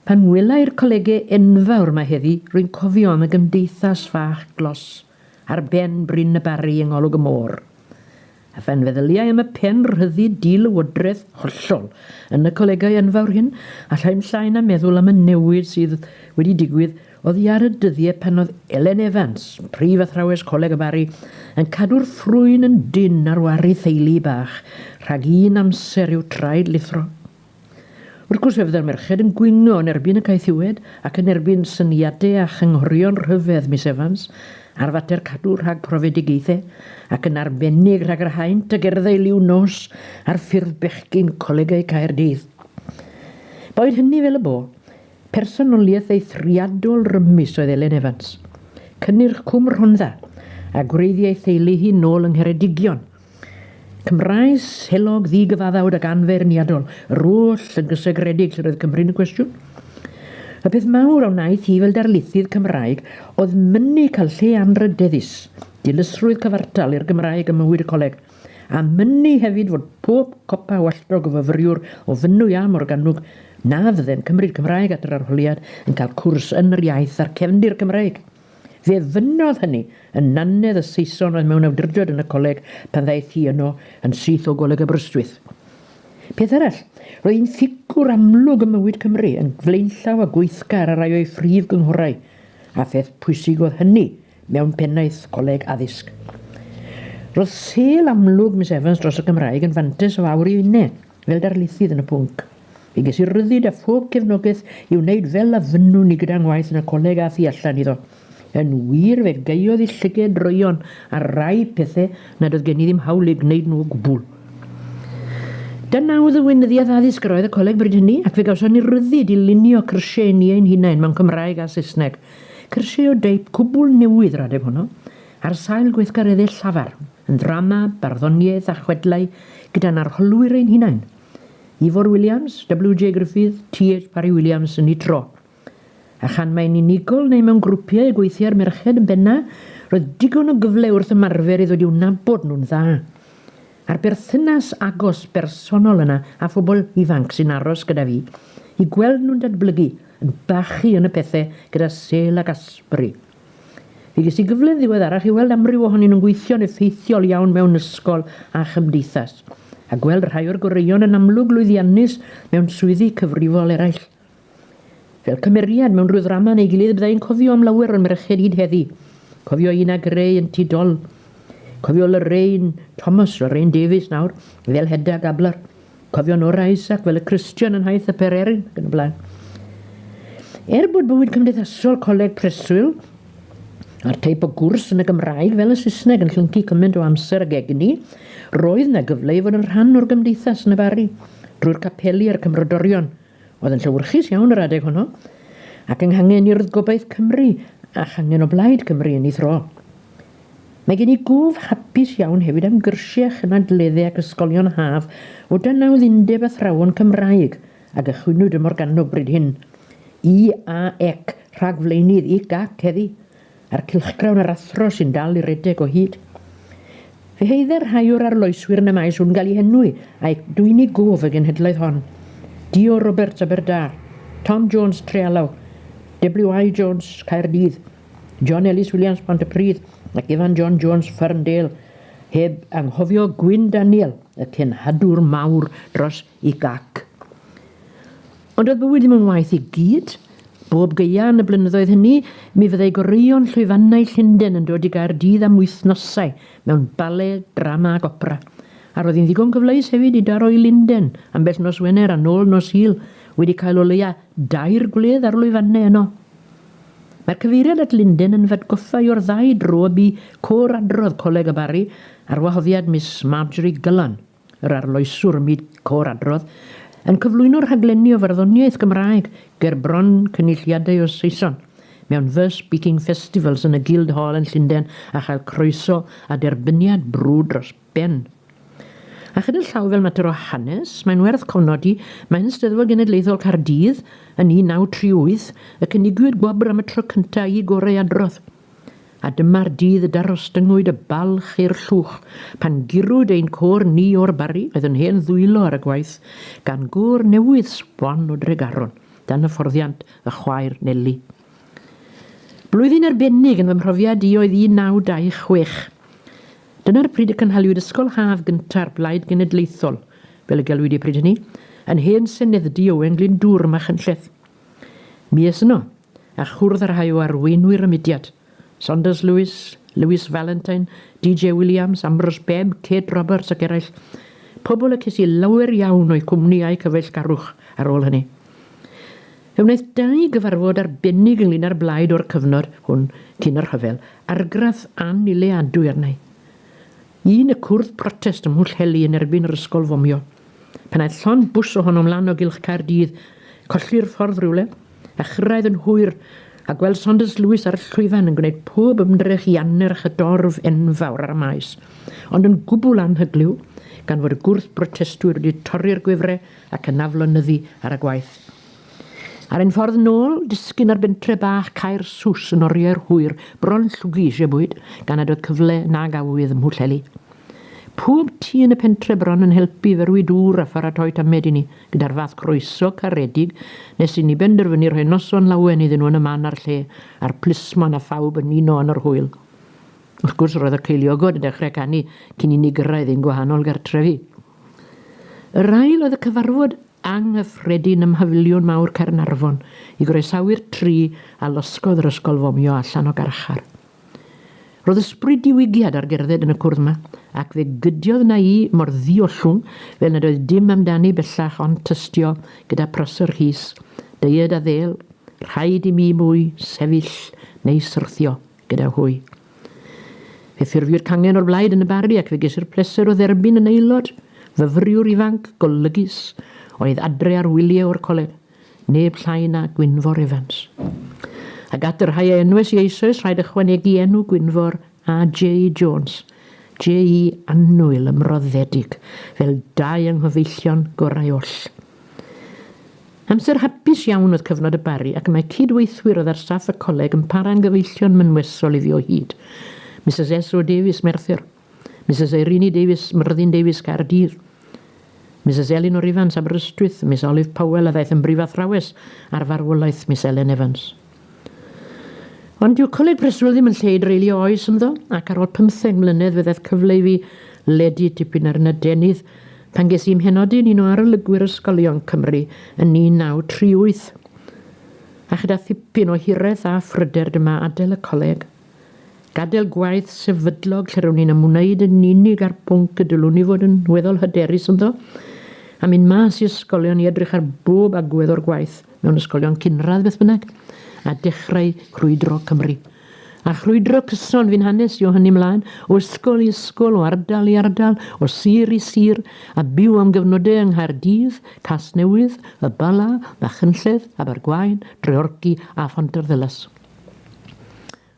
Pan welai'r colege enfawr 'ma heddi, rwy'n cofio am y gymdeithas fach glos ar ben Bryn y Barri yng ngolwg y môr. A phan feddyliai am y pen rhyddid di-lywodraeth hollol yn y colegau enfawr hyn, allai'm llai na meddwl am y newid sydd wedi digwydd oddi ar y dyddie pan oedd Elen Evans, prif athrawes Coleg y Barri, yn cadw'r ffrwyn yn dynn ar wary theulu bach rhag un amser i'w traed lithro. Wrth gwrs fe fydda'r merched yn gwyno yn erbyn y caethiwed ac yn erbyn syniadau a chynghorion rhyfedd Miss Evans ar fater cadw rhag profedigaethau, ac yn arbennig rhag yr haint a gerddai liw nos ar ffurf bechgyn colegau Caerdydd. Boed hynny fel y bo, personoliaeth eithriadol rymus oedd Elen Evans. Cynnyrch Cwm Rhondda, a gwreiddiai theulu hi nôl yng Ngheredigion, Cymraes, heulog, ddi-gyfaddawd ac anfeirniadol, yr oll yn gysegredig lle roedd Cymru'n y cwestiwn. Y peth mawr a wnaeth hi fel darlithydd Cymraeg oedd mynnu cael lle anrhydeddus, dilysrwydd cyfartal i'r Gymraeg ym mywyd y coleg, a mynnu hefyd fod pob copa o alltog o fyfyriwr o Fynwy a Morgannwg na fydde'n cymryd Cymraeg at yr arholiad yn cael cwrs yn yr iaith a'r cefndir Cymreig. Fe fynnodd hynny yn nannedd y Saeson oedd mewn awdurdod yn y coleg pan ddaeth hi yno yn syth o Goleg Aberystwyth. Peth arall, roedd hi'n ffigwr amlwg ym mywyd Cymru, yn flaenllaw a gweithgar ar rai o'i phrif gynghorau, a pheth pwysig oedd hynny mewn pennaeth coleg addysg. Roedd sêl amlwg Miss Evans dros y Gymraeg yn fantais o awr i finne. Fel darlithydd yn y pwnc, fe ges i ryddid a phob cefnogaeth i wneud fel a fynnwn i gyda ngwaith yn y coleg a thu allan iddo. Yn wir, fe gaeodd i llyged droeon ar rai pethau nad oedd gen i ddim hawl eu gwneud nhw o gwbl. Dyna oedd y weinyddiaeth addysg yr oedd y coleg bryd hynny, ac fe gawson ni ryddid i lunio cyrsiau ni ein hunain mewn Cymraeg a Saesneg. Cyrsiau o deip cwbl newydd yr adeg honno. Ar sail gweithgareddau llafar, yn ddrama, barddoniaeth a chwedlau gyda'n arholwyr ein hunain, Ifor Williams, WJ Gruffydd, TH Parry Williams yn eu tro. A chan mai'n unigol neu mewn grwpiau y gweithiai'r merched yn bennaf, roedd digon o gyfle wrth ymarfer i ddod i'w nabod nhw'n dda. A'r berthynas agos, bersonol yna â phobl ifanc sy'n aros gyda fi, i gweld nhw'n datblygu, yn bachu yn y pethe gyda Sel ac Asbury. Fe ges i gyfle'n ddiweddarach i weld amryw ohonyn nhw'n gweithio'n effeithiol iawn mewn ysgol a chymdeithas, a gweld rhai o'r goreuon yn amlwg lwyddiannus mewn swyddi cyfrifol eraill. Fel cymeriad mewn rhyw ddrama neu gilydd bydda i'n cofio am lawer o'r merched hyd heddi. Cofio Ina Gray yn Tŷ Dol. Cofio Lorraine Thomas, Lorraine Davies nawr, fel Hedda Gabler. Cofio Nora Isaac fel y Christian yn nhaith y Pererin ac yn y blaen. Er bod bywyd cymdeithasol coleg preswyl a'r teip o gwrs yn y Gymraeg fel y Saesneg yn llyncu cymaint o amser ag egni, roedd na gyfle i fod yn rhan o'r gymdeithas yn y Barri, drwy'r capeli a'r cymrodorion, oedd yn llywyrchus iawn yr adeg honno, ac yng nghangen urdd gobaith Cymru a changen o blaid Cymru yn ei thro. Mae gen i gwf hapus iawn hefyd am gyrsiau chynadledde ac ysgolion haf o dan nawdd Undeb Athrawon Cymraeg a gychwynnwyd ym Morgannwg bryd hyn. IAEC, rhagflaenydd IGAC heddi, a'r cylchgrawn a'r athro sy'n dal i redeg o hyd. Fe heidde'r rhai o'r arloeswyr yn y maes hwn gael eu henwi a'u dwyni gof y genhedlaeth hon. Dio Roberts, Aberdâr. Tom Jones, Trealaw. WI Jones, Caerdydd. John Ellis Williams, Pontypridd, ac Ifan John Jones, Ferndale, heb anghofio Gwyn Daniel, y cenhadwr mawr dros i gac. Ond oedd bywyd ddim yn waith i gyd. Bob geia yn y blynyddoedd hynny, mi fyddai goreuon llwyfannau Llundain yn dod i gair dydd am wythnosau mewn bale, drama ac opera. A roedd hi'n ddigon cyfleus hefyd i daro i Lundain ambell nos Wener a nôl nos Sul, wedi cael o leia dair gwledd ar lwyfannau yno. Mae'r cyfeiriad at Linden yn f'atgoffa i o'r ddau dro y bu côr adrodd Coleg y Barri ar wahoddiad Miss Marjorie Gullan, yr arloeswr ym myd côr adrodd, yn cyflwyno rhaglenni o farddoniaeth Gymraeg ger bron cynulliadau o Saeson mewn Verse Speaking Festivals yn y Guildhall yn Llunden a chael croeso a derbyniad brwd dros Ben. A chyda llaw fel mater o hanes, mae'n werth cofnodi, mae yn Steddfod Genedlaethol Caerdydd, yn 1938, y cynigiwyd gwobr am y tro cyntaf i gorau adrodd. A dyma'r dydd y darostyngwyd y balch i'r llwch, pan gurwyd ein côr ni o'r Barri, oedd yn hen ddwylo ar y gwaith, gan gôr newydd sbon o Dregaron, dan hyfforddiant y chwaer Neli. Blwyddyn arbennig yn fy mhrofiad i oedd 1926. Dyna'r pryd y cynhaliwyd Ysgol Haf gynta'r Blaid Genedlaethol, fel y gelwid i pryd hynny, yn hen senedddy Owen Glyndŵr, Machynlleth. Mi es yno, a chwrdd â rhai o arweinwyr y mudiad, Saunders Lewis, Lewis Valentine, DJ Williams, Ambrose Bebb, Kate Roberts ac eraill, pobl y ces i lawer iawn o'u cwmni a'u cyfeillgarwch ar ôl hynny. Fe wnaeth dau gyfarfod arbennig ynglŷn â'r blaid o'r cyfnod hwn cyn y rhyfel argraff annileadwy arna'i. Un y cwrdd protest ym Mhwllheli yn erbyn yr ysgol fomio. Pan aeth llond bws ohonom lan o gylch Caerdydd, colli'r ffordd rywle, a chyrraedd yn hwyr, a gweld Saunders Lewis ar y llwyfan yn gwneud pob ymdrech i annerch y dorf enfawr ar y maes, ond yn gwbl anhyglyw, gan fod y gwrth brotestwyr wedi torri'r gwefre, ac yn aflonyddu ar y gwaith. Ar ein ffordd nôl, disgyn ar bentre bach Caer Sws yn oriau'r hwyr bron llwgu eisiau bwyd, gan nad oedd cyfle nag awydd ym Mhwllheli. Pob tŷ yn y pentre bron yn helpu i ferwi dŵr a pharatoi tamed i ni, gyda'r fath croeso caredig nes i ni benderfynu rhoi noson lawen iddyn nhw yn y man a'r lle, a'r plismon a phawb yn uno yn yr hwyl. Wrth gwrs, roedd y ceiliogod yn dechrau canu cyn i ni gyrraedd ein gwahanol gartrefi. Yr ail oedd y cyfarfod anghyffredin ym Mhafiliwn Mawr Caernarfon i groesawu'r tri a losgodd yr ysgol fomio allan o garchar. Roedd ysbryd diwygiad ar gerdded yn y cwrdd yma, ac fe gydiodd na i mor ddiollwng fel nad oedd dim amdani bellach ond tystio gyda prosser rhys, deied a ddêl, rhaid i mi mwy sefyll neu syrthio. gyda hwy. Fe ffurfiwyd cangen o'r blaid yn y Barri ac fe gesur pleser o dderbyn yn aelod, fyfyriwr ifanc, golygus, oedd adre ar wyliau o'r coleg, neb llai na Gwynfor Evans. Ac at y rhai a enwes i eisoes rhaid ychwanegu enw Gwynfor a J.E. Jones, J.E. annwyl ymroddedig, fel dau yng nghyfeillion gorau oll. Amser hapus iawn oedd cyfnod y Barri ac mae cyd-weithwyr oedd ar staff y coleg yn para'n gyfeillion mynwesol iddi o hyd. Misus SO Davies, Merthyr. Misus Eirini Davies, Myrddin Davies, Caerdydd. Misus Elinor Ifans, Aberystwyth. Miss Olive Powell a ddaeth yn brifathrawes ar farwolaeth Miss Elen Evans. Ond dyw Coleg Preswyl ddim yn lle i dreulio oes ynddo, ac ar ôl pymtheg mlynedd fe ddaeth cyfle i fi ledu tipyn ar 'yn adenydd pan ges i 'y mhenodi yn un o arolygwyr ysgolion Cymru yn 1938. A chyda thipyn o hireth a phryder dyma adael y coleg. Gadael gwaith sefydlog lle rown ni'n ymwneud yn unig â'r pwnc y dylwn ni fod yn weddol hyderus ynddo, a mynd mas i ysgolion i edrych ar bob agwedd o'r gwaith mewn ysgolion cynradd beth bynnag, a dechrau crwydro Cymru. A chrwydro cyson, fi'n hanes i o hynny mlaen, o ysgol i ysgol, o ardal i ardal, o sir i sir, a byw am gyfnodau yng Nghaerdydd, Casnewydd, Y Bala, Machynlleth, Abergwaun, Dreorci a Phontarddulais.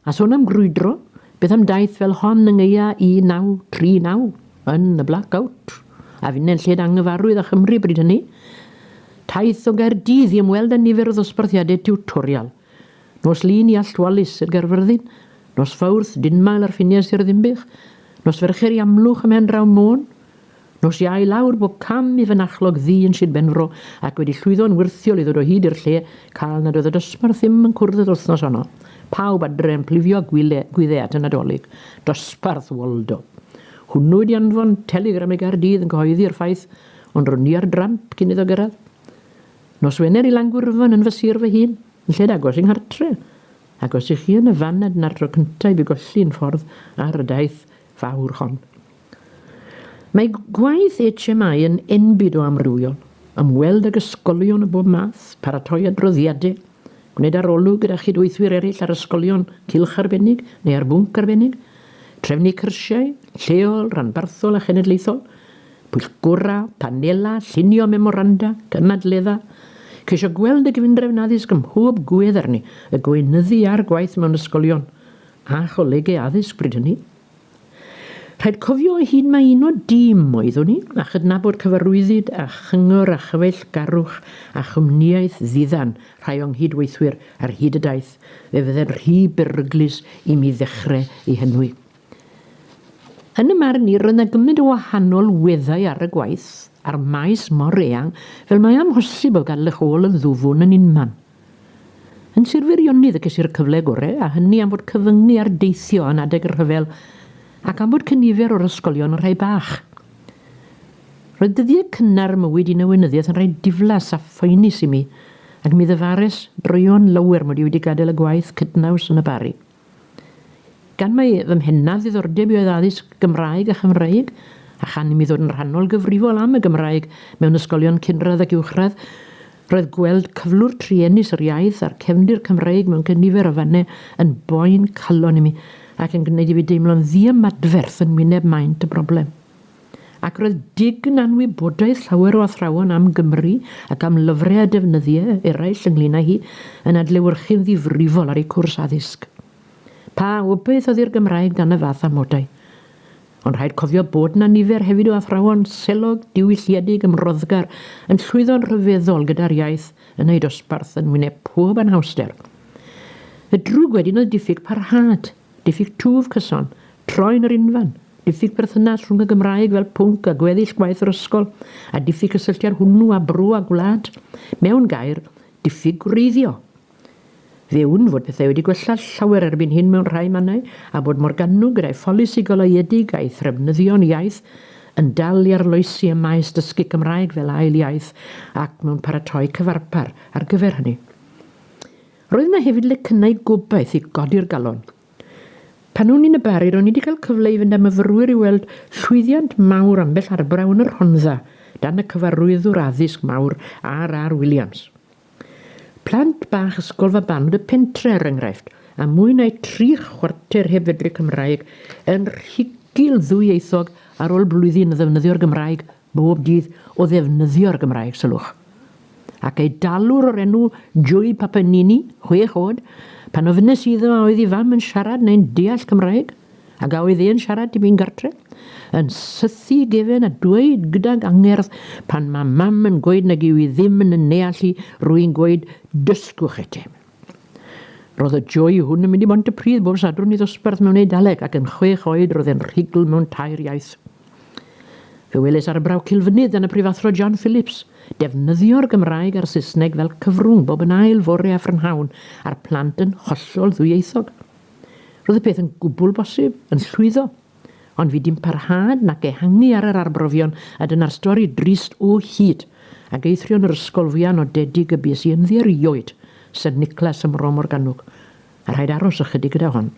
A sôn am grwydro, beth am daith fel hon yng Nghaea 1939 yn y Black Out, a finne'n lled anghyfarwydd â Chymru bryd hynny? Taith o Gaerdydd i ymweld â nifer o ddosbarthiadau tiwtorial. Nos Lun i Allt Wallace, Sir Gaerfyrddin. Nos Fawrth, Dinmael ar ffiniau Sir Ddinbych. Nos Fercher i Amlwch ym Mhendraw Môn. Nos Iau lawr bob cam i fynachlog ddu yn Sir Benfro ac wedi llwyddo'n wyrthiol i ddod o hyd i'r lle cal nad oedd y dosbarth ddim yn cwrdd yr wythnos honno. Pawb adre yn plifio gwyle, gwydde at y Nadolig. Dosbarth Waldo! Hwnnw wedi anfon teligram i Gaerdydd yn cyhoeddi'r ffaith, ond ro'n i ar dramp cyn iddo gyrraedd. Nos Wener i Langwyrfan yn fy sir fy hun, yn lled agos i nghartre. Ac os i chi yn y fan nad na'r tro cynta i fi golli yn ffordd ar y daith, fawr hon. Mae gwaith HMI yn enbyd o amrywiol, ymweld ag ysgolion o bob math, paratoi adroddiadau, gwneud arolwg gyda chydweithwyr eraill ar ysgolion cylch arbennig neu ar bwnc arbennig, trefnu cyrsiau, lleol, rhanbarthol a chenedlaethol, pwyllgorau, panelau, llunio memoranda, cynadleddau, ceisio gweld y Gyfundrefn Addysg ym mhob gwedd arni, y gweinyddu a'r gwaith mewn ysgolion, a cholegau addysg bryd hynny. Rhaid cofio ei hun mae un o dîm oeddwn i, a chydnabod cyfarwyddyd a chyngor a chyfeillgarwch a chwmnïaeth ddiddan rhai o'n nghyd-weithwyr ar hyd y daith fe fydde'n rhy beryglus i mi ddechrau ei henwi. Yn y marn i, roedd 'na gymaint o wahanol weddau ar y gwaith, a'r maes mor eang, fel mae amhosib o gadl eich ôl yn ddwfwn yn unman. Yn Sir Feirionydd y ceisir y cyfle gore a hynny am fod cyfyngu ar deithio yn adeg y rhyfel ac am fod cynifer o'r ysgolion yn rhai bach. Roedd dyddiau cynnar y mywyd yn y weinyddiaeth yn rhai diflas a phoenus i mi ac mi ddyfares droeon lawer mod i wedi gadael y gwaith cydnaws yn y Barri. Gan mai fy mhennaf ddiddordeb i oedd addysg Gymraeg a Chymreig, a chan imi ddod yn rhannol gyfrifol am y Gymraeg mewn ysgolion cynradd ac uwchradd, roedd gweld cyflwr truenus yr iaith a'r cefndir Cymreig mewn cynifer o fannau yn boen calon imi ac yn gwneud i fi deimlo'n ddiymadferth yn wyneb maint y broblem. Ac roedd Dig'n anwybodaeth llawer o athrawon am Gymru ac am lyfrau a defnyddiau eraill ynglŷn â hi yn adlewyrchu'n ddifrifol ar ei cwrs addysg. Pa obaith oedd i'r Gymraeg dan y fath amodau? Ond rhaid cofio bod 'na nifer hefyd o athrawon selog, diwylliedig, ymroddgar, yn llwyddo'n rhyfeddol gyda'r iaith yn eu dosbarth yn wyneb pob anhawster. Y drwg wedyn oedd diffyg parhad, diffyg twf cyson, troi'n yr unfan. Diffyg perthynas rhwng y Gymraeg fel pwnc a gweddill gwaith yr ysgol, a diffyg cysylltiad hwnnw â bro a gwlad. Mewn gair, diffyg gwreiddio. Fe wn fod pethau wedi gwella llawer erbyn hyn mewn rhai mannau, a bod Morgannwg gyda'i pholisi goleuedig a'i threfnyddio'n iaith yn dal i arloesi ym maes dysgu Cymraeg fel ail iaith ac mewn paratoi cyfarpar ar gyfer hynny. Roedd yna hefyd lecynnau gobaith i godi'r galon. Pan o'n i'n y Bari, ro'n i wedi cael cyfle i fynd â myfyrwyr i weld llwyddiant mawr ambell arbrawf yn y Rhondda, dan y cyfarwyddwr addysg mawr RR Williams. Plant bach Ysgol Fabanod y Pentre, er enghraifft, a mwy na'u tri chwarter heb fedru Cymraeg, yn rhugl ddwyieithog ar ôl blwyddyn o ddefnyddio'r Gymraeg bob dydd o ddefnyddio'r Gymraeg, sylwch, ac ei dalwr o'r enw Julie Papanini, chwech oed, pan ofynes iddo a oedd ei fam yn siarad neu'n deall Cymraeg, ac a oedd e'n siarad tipyn gartre, yn sythu ei gefen a dweud gydag angerdd, pan mae mam yn gweud nag yw hi ddim yn yn neall hi, rwy'n gweud, dysgwch etem. Roedd y joy hwn yn mynd i Mhontypridd bob Sadwrn i ddosbarth mewn Eidaleg ac yn chwech oed roedd e'n rhugl mewn tair iaith. Fe weles arbrawf Cilfynydd gan y Prifathro John Phillips defnyddio'r Gymraeg a'r Saesneg fel cyfrwng bob yn ail fore a phrynhawn a'r plant yn hollol ddwyieithog. Roedd y peth yn gwbl bosib, yn llwyddo. Ond fi dim parhad nac ehangu ar yr arbrofion a dyna'r stori drist o hyd ag eithrio'n yr ysgol fwya nodedig y bues i ynddi erioed, Saint Nicholas ym Mro Morgannwg, a rhaid aros ychydig gyda hon.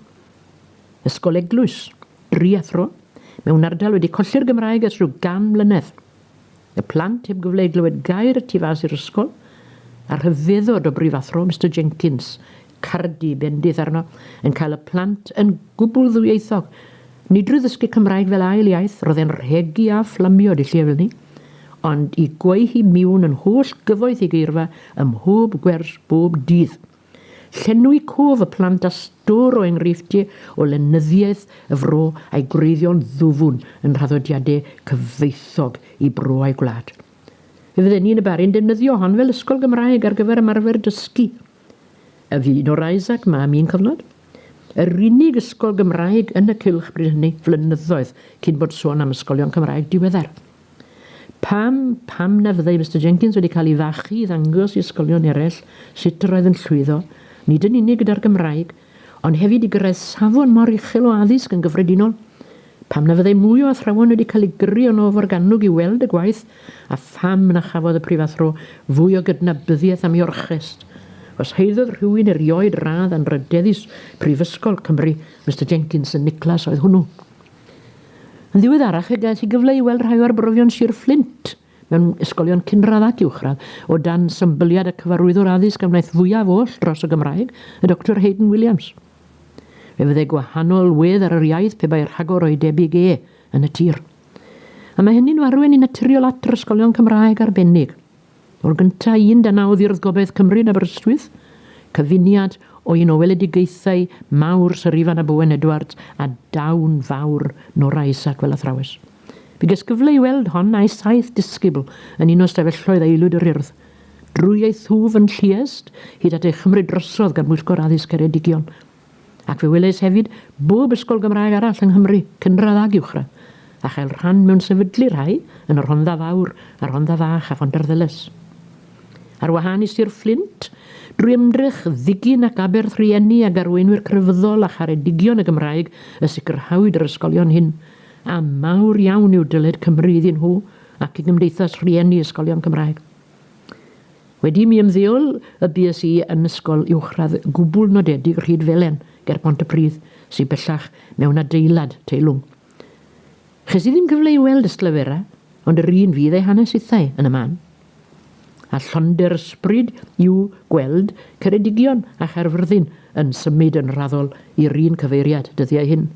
Ysgol eglwys, dri athro, mewn ardal wedi colli'r Gymraeg ers rhyw gan mlynedd. Y plant heb gyfle i glywed gair y tu fas i'r ysgol, a rhyfeddod o brifathro Mister Jenkins, cardi bendith arno, yn cael y plant yn gwbl ddwyieithog. Nid drwy ddysgu Cymraeg fel ail iaith, roedd e'n rhegi a fflamio dilliewyl ni, ond i gweu hi miwn yn holl gyfoeth ei geirfa ym mhob gwers bob dydd. Llenwi cof y plant â stôr o enghreifftiau o lenyddiaeth y fro a'i gwreiddio'n ddwfwn yn nhraddodiadau cyfoethog i bro a'i gwlad. Fe fydden ni yn y Barri'n defnyddio hon fel ysgol Gymraeg ar gyfer ymarfer dysgu. A fu un o'r Isaac 'ma am un cyfnod? Yr unig ysgol Gymraeg yn y cylch bryd hynny, flynyddoedd cyn bod sôn am ysgolion Cymraeg diweddar. Pam, pam na fyddai Mister Jenkins wedi cael ei fachu i ddangos i ysgolion eraill sut yr oedd yn llwyddo, nid yn unig gyda'r Gymraeg, ond hefyd i gyrraedd safon mor uchel o addysg yn gyffredinol? Pam na fyddai mwy o athrawon wedi cael eu gyrru yno o Forgannwg i weld y gwaith, a pham na chafodd y prifathro fwy o gydnabyddiaeth am ei orchest? Os haeddodd rhywun erioed radd anrhydeddus Prifysgol Cymru, Mister Jenkins yn Nicholas oedd hwnnw. Yn ddiweddarach fe ges i gyfle i weld rhai o arbrofion Sir Fflint mewn ysgolion cynradd ac uwchradd, o dan symbyliad y Cyfarwyddwr Addysg a wnaeth fwyaf oll dros y Gymraeg, y Doctor Haydn Williams. Fe fydde gwahanol wedd ar yr iaith pe bai rhagor o'i debyg e yn y tir. A mae hynny'n arwain yn naturiol at yr ysgolion Cymraeg arbennig. O'r gyntaf un dan a oddiodd gobaith Cymru yn Aberystwyth, cyfuniad o un o weledigaethau mawr Syr Ifan ab Owen Edwards a dawn fawr Nora Isaac fel athrawes. Fe ges gyfle i weld hon a'i saith disgybl yn un o ystafelloedd aelwyd yr Urdd. Drwy ei thwf yn Lluest, hyd at ei chymryd drosodd gan Bwyllgor Addysg Ceredigion, Ac fe welais hefyd bob ysgol Gymraeg arall yng Nghymru, cynradd ag uwchradd, a chael rhan mewn sefydlu rhai yn y Rhondda Fawr, y Rhondda Fach a Phontarddulais. Ar wahân i Sir Fflint, drwy ymdrech ddigyn ac aberth rhieni ag arweinwyr crefyddol a charedigion y Gymraeg y sicrhawyd yr ysgolion hyn, a mawr iawn yw dyled Cymru iddyn nhw ac i Gymdeithas Rhieni Ysgolion Cymraeg. Wedi mi ymddeol y bues i yn ysgol uwchradd gwbl nodedig Rhyd-felen ger Pontypridd, sy bellach mewn adeilad teilwng. Ches i ddim cyfle i weld Ystalyfera, ond yr un fydd ei hanes hithau yn y man. A llonder ysbryd yw gweld Ceredigion a Chaerfyrddin yn symud yn raddol i'r un cyfeiriad dyddiau hyn.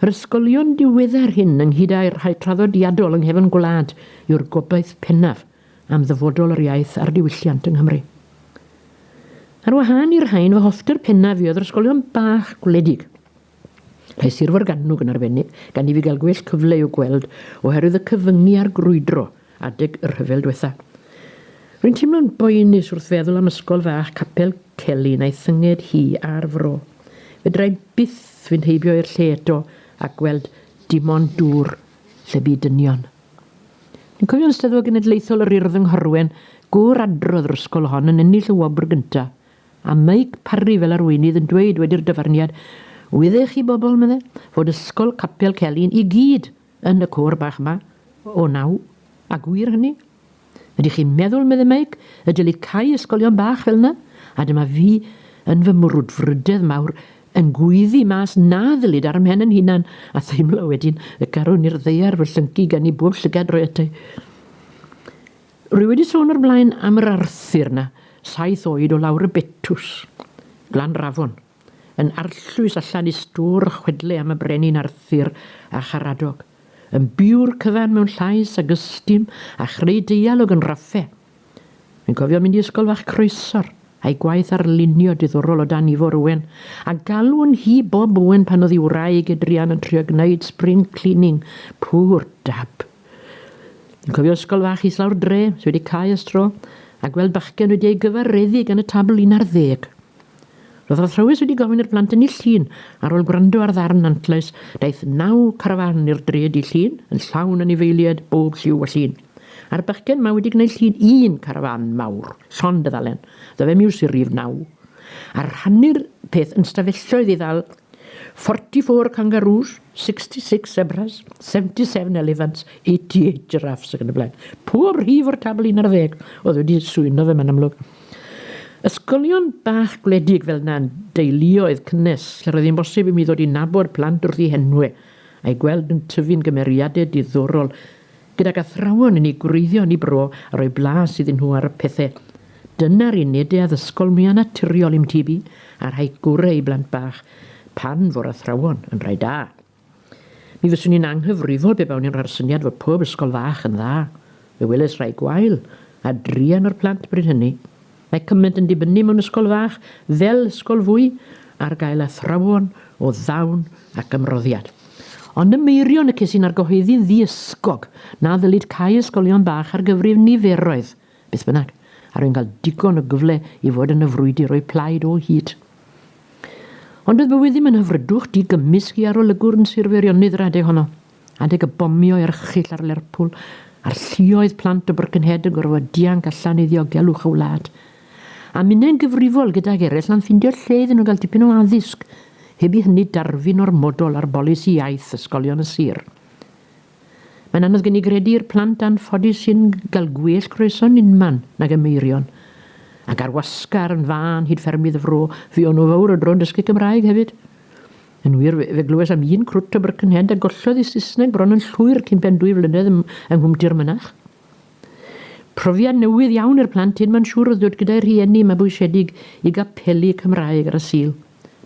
Yr ysgolion diweddar hyn ynghyd â'i rhai traddodiadol yng nghefn gwlad yw'r gobaith pennaf am ddyfodol yr iaith a'r diwylliant yng Nghymru. Ar wahân i'r rhain, fy hoffter pennaf i oedd yr ysgolion bach gwledig. Rhai Sir Forgannwg yn arbennig, gan i fi gael gwell cyfle i'w gweld oherwydd y cyfyngu a'r grwydro adeg y rhyfel dwetha. Rwy'n teimlo'n boenus wrth feddwl am ysgol fach Capel Celyn a'i thynged hi a'r fro. Fedrai byth fynd heibio i'r lle eto a gweld dim ond dŵr lle bu dynion. Yn cofio'n Steddfod Genedlaethol yr Urdd yng Nghorwen, gŵr adrodd yr ysgol hon yn ennill y wobr gyntaf, a Meic Parri fel arweinydd yn dweud wedi'r dyfarniad, Wydde chi bobl, medde, fod ysgol Capel Celyn i gyd yn y côr bach 'ma o naw, a gwir hynny. Ydych chi'n meddwl, meddai Mike, y dylid cau ysgolion bach fel yna? A dyma fi, yn fy mwrwdfrydedd mawr, yn gweiddi mas na ddylid ar 'y mhen yn hunan, a theimlo wedyn y carwn i'r ddaear fy llyncu gan i bob llygad roi ata i. Rwy wedi sôn o'r blaen am yr Arthur 'na, saith oed o lawr y Betws, Glanrafon. Yn arllwys allan i stôr chwedle am y Brenin Arthur a Charadog, yn biw'r cyfan mewn llais ag ystum a chreu deialog yn raffe. Rwy'n cofio mynd i Ysgol Fach Croesor, a'i gwaith arlunio diddorol o dan Ifor Owen, a galw'n hi Bob Owen pan oedd ei wraig Adrian yn trio gwneud spring cleaning, poor dab. Rwy'n cofio Ysgol Fach Islaw'r Dre, sy wedi cau ers tro, a gweld bachgen wedi ei gyfareddu gan y tabl un ar ddeg. Roedd yr athrawes wedi gofyn i'r plant ennill llun, ar ôl gwrando ar ddarn antlais, daeth naw carafán i'r dre dydd Llun, yn llawn anifeiliaid bob lliw a llun. A'r bachgen 'ma wedi gwneud llun un carafán mawr, llond y ddalen, ddo fe miws i'r rif naw. A rhannu'r peth yn stafelloedd i ddal 44 kangaroos, 66 zebras, 77 elephants, 88 giraffes ac yn y blaen. Pob rhif o'r tabl un ar ddeg oedd wedi swyno fe 'ma'n amlwg. Ysgolion bach gwledig fel 'na yn deuluoedd cynnes lle roedd hi'n bosib i mi ddod i nabod plant wrth eu henwe, a'u gweld yn tyfu'n gymeriade diddorol, gydag athrawon yn eu gwreiddio yn eu bro a rhoi blas iddyn nhw ar y pethe. Dyna'r uned de addysgol mwya naturiol i'm tyb i, a rhaid gore i blant bach, pan fo'r athrawon yn rhai da. Mi fyswn i'n anghyfrifol pe bawn i'n rhoi'r syniad fod pob ysgol fach yn dda. Fe welais rai gwael, a druan o'r plant bryd hynny. Mae cymaint yn dibynnu mewn ysgol fach, fel ysgol fwy, ar gael athrawon o ddawn ac ymroddiad. Ond ym Meirion y ces i'n argyhoeddi'n ddi-ysgog na ddylid cau ysgolion bach ar gyfrif niferoedd, Beth bynnag, a rwy'n cael digon o gyfle i fod yn y frwydr o'u plaid o hyd. Ond bydd bywyd ddim yn hyfrydwch di-gymysg i arolygwr yn Sir Feirionnydd yr adeg honno. Adeg y bomio erchyll ar Lerpwl, a'r lluoedd plant o Birkenhead yn gorfod dianc allan i ddiogelwch y wlad. A minnau'n gyfrifol gydag eraill am ffindio lle iddyn nhw gael dipyn o addysg, heb i hynny darfu'n ormodol ar bolisi iaith ysgolion y sir. Mae'n anodd gen i gredu i'r plant anffodus sy'n cael gwell croeso'n unman nag y meirion. Ac ar wasgar yn fân hyd ffermydd y fro, fuon nhw fawr o dro'n dysgu Cymraeg hefyd. Yn wir, fe, fe glywes am un crwt o Birkenhead a gollodd ei Saesneg bron yn llwyr cyn pen dwy flynedd ym, yng Nghwmti'r Mynach. Profiad newydd iawn i'r plant hyn, mae'n siŵr, oedd dod gyda'i rhieni mabwysiedig i gapeli Cymraeg ar y Sul.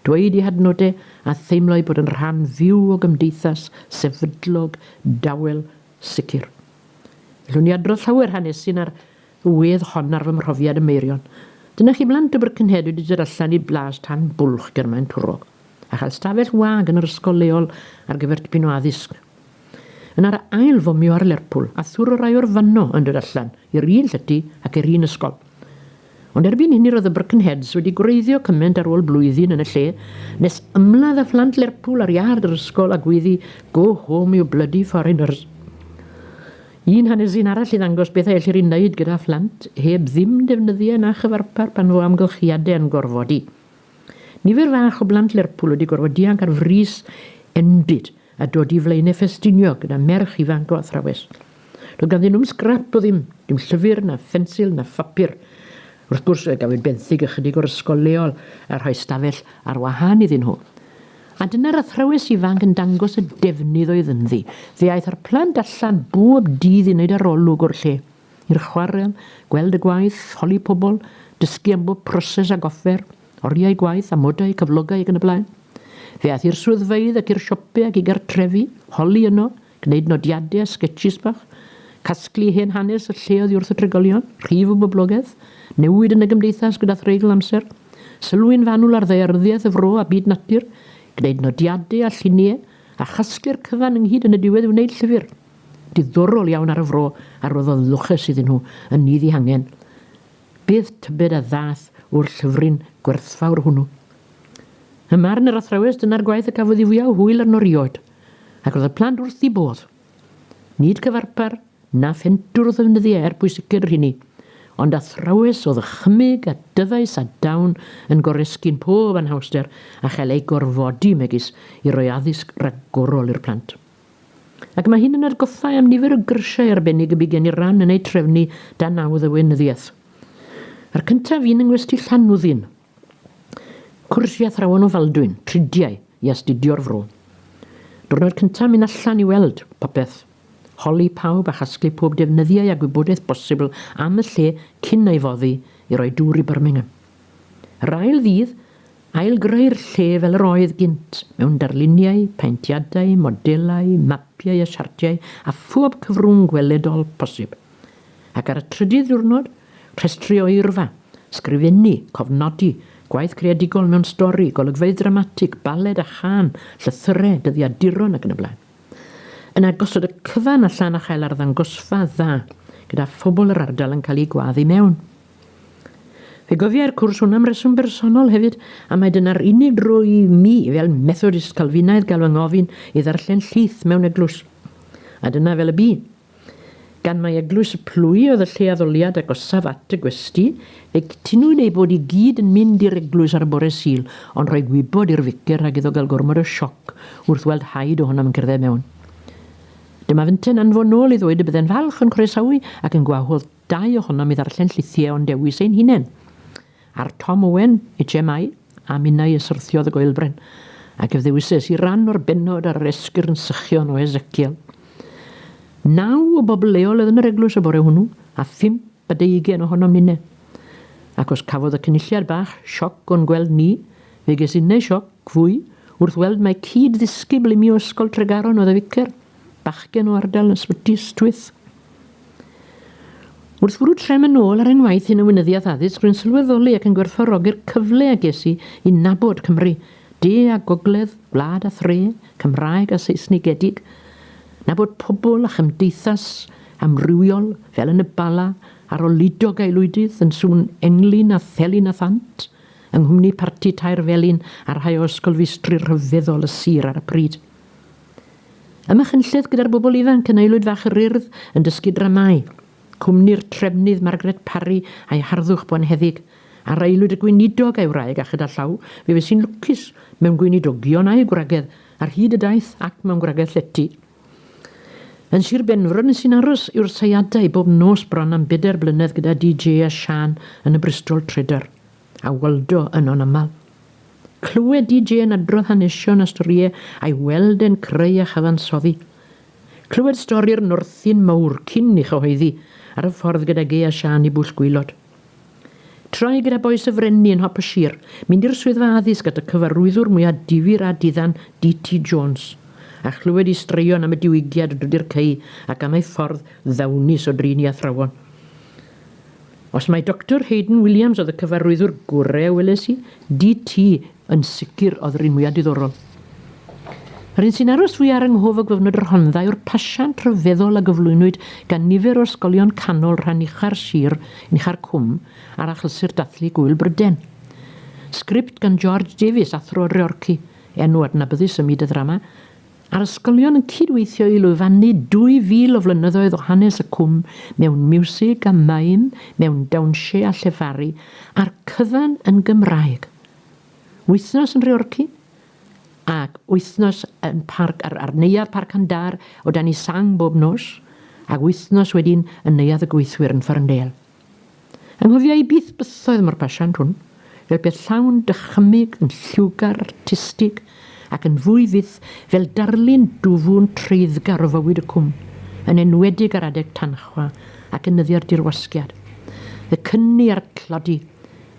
dweud eu hadnodau a theimlo eu bod yn rhan fyw o gymdeithas sefydlog, dawel, sicr. Ellwn i adrodd llawer hanesin ar y wedd hon ar fy mhrofiad ym Meirion. Dyna chi blant o Birkenhead wedi dod allan i blas tan bwlch ger Maen Twrog, a chael stafell wag yn yr ysgol leol ar gyfer tipyn o addysg. Yna'r ail fomio ar Lerpwl a thwr y rai o'r fanno yn dod allan i'r un llety ac i'r un ysgol. Ond erbyn hynny roedd y Birkenheads wedi gwreiddio cyment ar ôl blwyddyn yn y lle nes ymladd â phlant Lerpwl ar iard yr ysgol a gweiddi 'Go home you bloody foreigners'. Un hanes un arall i ddangos beth a ellir ei wneud gyda phlant heb ddim defnyddiau na chyfarpar pan fo amgylchiadau yn gorfodi. Nifer fach o blant Lerpwl wedi gorfod dianc ar frys enbyd a dod i Flaenau Ffestiniog gyda merch ifanc o athrawes. Doedd ganddyn nhw'm sgrap o ddim, dim llyfr, na phensil, na phapur. Wrth gwrs, fe gafwyd benthyg ychydig o'r ysgol leol a rhoi stafell ar wahân iddyn nhw. A dyna'r athrawes ifanc yn dangos y defnydd oedd ynddi. Fe aeth â'r plant allan bob dydd i wneud arolwg o'r lle. i'r chwarel, gweld y gwaith, holi pobl, dysgu am bob proses ac offer, oriau gwaith, amodau, cyflogau ac yn y blaen. Fe aeth i'r swyddfeydd ac i'r siope ac i gartrefi, holi yno, gwneud nodiadau a sgetshis bach, casglu hen hanes y lle oddi wrth y trigolion, rhif o boblogaeth, newid yn y gymdeithas gyda threigl amser, sylwi'n fanwl ar ddaearyddiaeth y fro a byd natur, gwneud nodiadau a lluniau, a chasglu'r cyfan ynghyd yn y diwedd i wneud llyfr. Diddorol iawn ar y fro a rhoddodd lwches iddyn nhw yn nid eu hangen. Bydd tybed a ddaeth o'r llyfryn gwerthfawr hwnnw? Ym marn yr athrawes dyna'r gwaith y cafodd ei fwyaf o hwyl arno rioed, ac roedd y plant wrth eu bodd. Nid cyfarpar na phentwr oedd ddefnyddiau er pwysicer yr hynny, ond athrawes o ddychymyg a dyfais a dawn yn goresgyn pob anhawster a chael eu gorfodi megis i roi addysg ragorol i'r plant. Ac mae hyn yn atgoffa i am nifer o gyrsiau arbennig y bu gen i ran yn eu trefnu dan naw ddewinyddiaeth. A'r cyntaf un yng Ngwesty Llanwddyn. Cwrs i athrawon o Faldwyn, tridiau, i astudio'r fro. Diwrnod cyntaf mynd allan i weld popeth, holi pawb a chasglu pob defnyddiau a gwybodaeth bosibl am y lle cyn ei foddi i roi dŵr i Birmingham. Yr ail ddydd, ail-greu'r lle fel yr oedd gynt, mewn darluniau, paentiadau, modelau, mapiau a siartiau a phob cyfrwng gweledol posib. Ac ar y trydydd diwrnod, rhestru oerfa, sgrifennu, cofnodi, gwaith creadigol mewn stori, golygfeydd dramatig, baled a chân, llythyrau, dyddiaduron ac yn y blaen. Yna gosod y cyfan allan a chael arddangosfa dda gyda phobl yr ardal yn cael eu gwadd i mewn. Fe gofiai'r cwrs hwn am reswm bersonol hefyd, a mae dyna'r unig dro i mi, fel Methodist Calfinaidd, gael fy ngofyn i ddarllen llith mewn eglwys. A dyna fel y bu. Gan mai Eglwys y Plwy oedd y lle addoliad agosaf at y gwesty, fe gytunwyd eu bod i gyd yn mynd i'r eglwys ar y bore Sul, ond rhoi gwybod i'r ficer rhag iddo gael gormod o sioc wrth weld haid ohonom yn cerdded mewn. Dyma fynte'n anfonol i ddweud y bydde'n falch o'n croesawu ac yn gwahodd Dau ohonom i ddarllen llythie o'n dewis ein hunen. Ar Tom Owen, HMI, a minnau y syrthiodd y goelbren, ac ef ddewises i ran o'r bennod ar yr esgyrn sychion o Ezekiel. Naw o bobl leol oedd yn yr eglwys y bore hwnnw, a phump a deugen ohonom nine. Ac os cafodd y Cynulliad bach sioc o'n gweld ni, fe ges innau sioc fwy wrth weld mai cyd-ddisgybl imi o Ysgol Tregaron oedd y ficer, bachgen o ardal Ysbyty Ystwyth. Wrth fwrw trefn yn ôl ar ein waith hyn yn Weinyddiaeth Addysg, rwy'n sylweddoli ac yn gwerthfawrogi'r cyfle a ges i i nabod Cymru, de a gogledd, gwlad a thre, Cymraeg a Seisnigedig, nabod pobl a chymdeithas amrywiol, fel yn y Bala, arolidog aelwydydd yn sŵn englyn a thelyn a thant, yng nghwmni parti tair felin a rhai o ysgolfeistri rhyfeddol y sir ar y pryd. Ym Machynlleth gyda'r bobl ifanc yn Aelwyd Fach yr Urdd yn dysgu dramâu. Cwmni'r Trefnydd Margaret Parry a'i harddwch bonheddig. Ar Aelwyd y Gweinidog a'i wraig a chyda llaw fe fues-i'n lwcus mewn gweinidogion a'u gwragedd ar hyd y daith ac mewn gwragedd llety. Yn Sir Benfro nes-i'n aros yw'r seiadau bob nos bron am bedair blynedd gyda DJ a Siân yn y Bristol Trader. A Waldo yno'n aml. Clywed DJ yn adrodd hanesion a storie a'i weld e'n creu a chyfansoddi. Clywed stori'r Northi'n mawr cyn i chyhoeddi ar y ffordd gyda Gay a Siân i Bwll Gwaelod. Trai gyda Bois y Frenni yn hop y sir, mynd i'r swyddfa addysg at y cyfarwyddwr mwya difyr a diddan DT Jones, a chlywed i straeon am y diwygiad o Drydy'r Cei ac am ei ffordd ddawnus o drin i athrawon. Os mai Doctor Haydn Williams oedd y cyfarwyddwr gore a weles i, DT yn sicr oedd yr un mwya diddorol. Yr un sy'n aros fwy ar yng nghof o gyfnod y Rhondda yw'r pasiant rhyfeddol a gyflwynwyd gan nifer o'r ysgolion canol rhan ucha'r sir yn ucha'r Cwm ar Achlysur Dathlu Gŵyl Bryden. Sgript gan George Davies, athro Reorci, enw adnabyddus ym myd y ddrama, a'r ysgolion yn cyd-weithio i lwyfannu 2,000 o flynyddoedd o hanes y cwm mewn miwsig a maim, mewn dawnsio a llefaru, a'r cyfan yn Gymraeg. Wythnos yn Nhreorci ac wythnos yn parc ar, ar Neuadd Parc Andar o dan i sang bob nos, ac wythnos wedyn yn Neuadd y Gweithwyr yn Ffarndel. Anghofia i byth bythoedd mor basiant hwn, fel peth llawn dychymyg yn lliwgar artistig, ac yn fwy fyth fel darlun dwfwn treiddgar o fywyd y Cwm, yn enwedig ar adeg tanchwa ac yn nyddiau'r dirwasgiad. Y cyni a'r tlodi,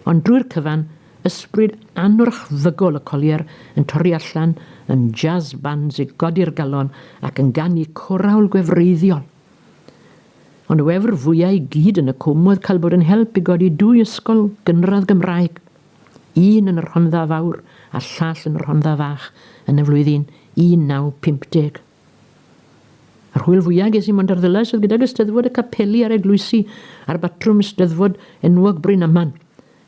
ond drwy'r cyfan, ysbryd anwrchfygol y Collier yn torri allan yn jazz bands i godi'r galon ac yn ganu corawl gwefreiddiol. Ond y wefr fwya' i gyd yn y Cwm oedd cael bod yn help i godi dwy ysgol gynradd Gymraeg, un yn y Rhondda Fawr a llall yn y Rhondda Fach yn y flwyddyn 1950. Yr hwyl fwya' ges i mond ar Ddulais oedd gydag Eisteddfod y Capeli a'r Eglwysi a'r Batrwm Steddfod enwog Bryn Aman,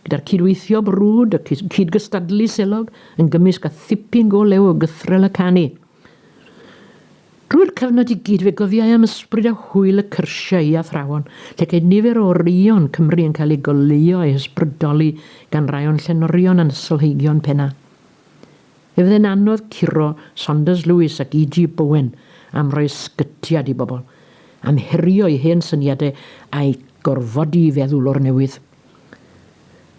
gyda'r cyd-weithio brwd a cyd-gystadlu selog yn gymysg a thipyn go lew o gythrel a canu. Drwy'r cyfnod i gyd fe gofiai am ysbryd a hwyl y cyrsiau i athrawon, lle ceid nifer o oreuon Cymru yn cael eu goleuo a'u hysbrydoli gan rai o'n llenorion a'n ysgolheigion penna. Fe fydde'n anodd curo Saunders Lewis ac EG Bowen am roi ysgytiad i bobl, am herio eu hen syniadau a'u gorfodi i feddwl o'r newydd.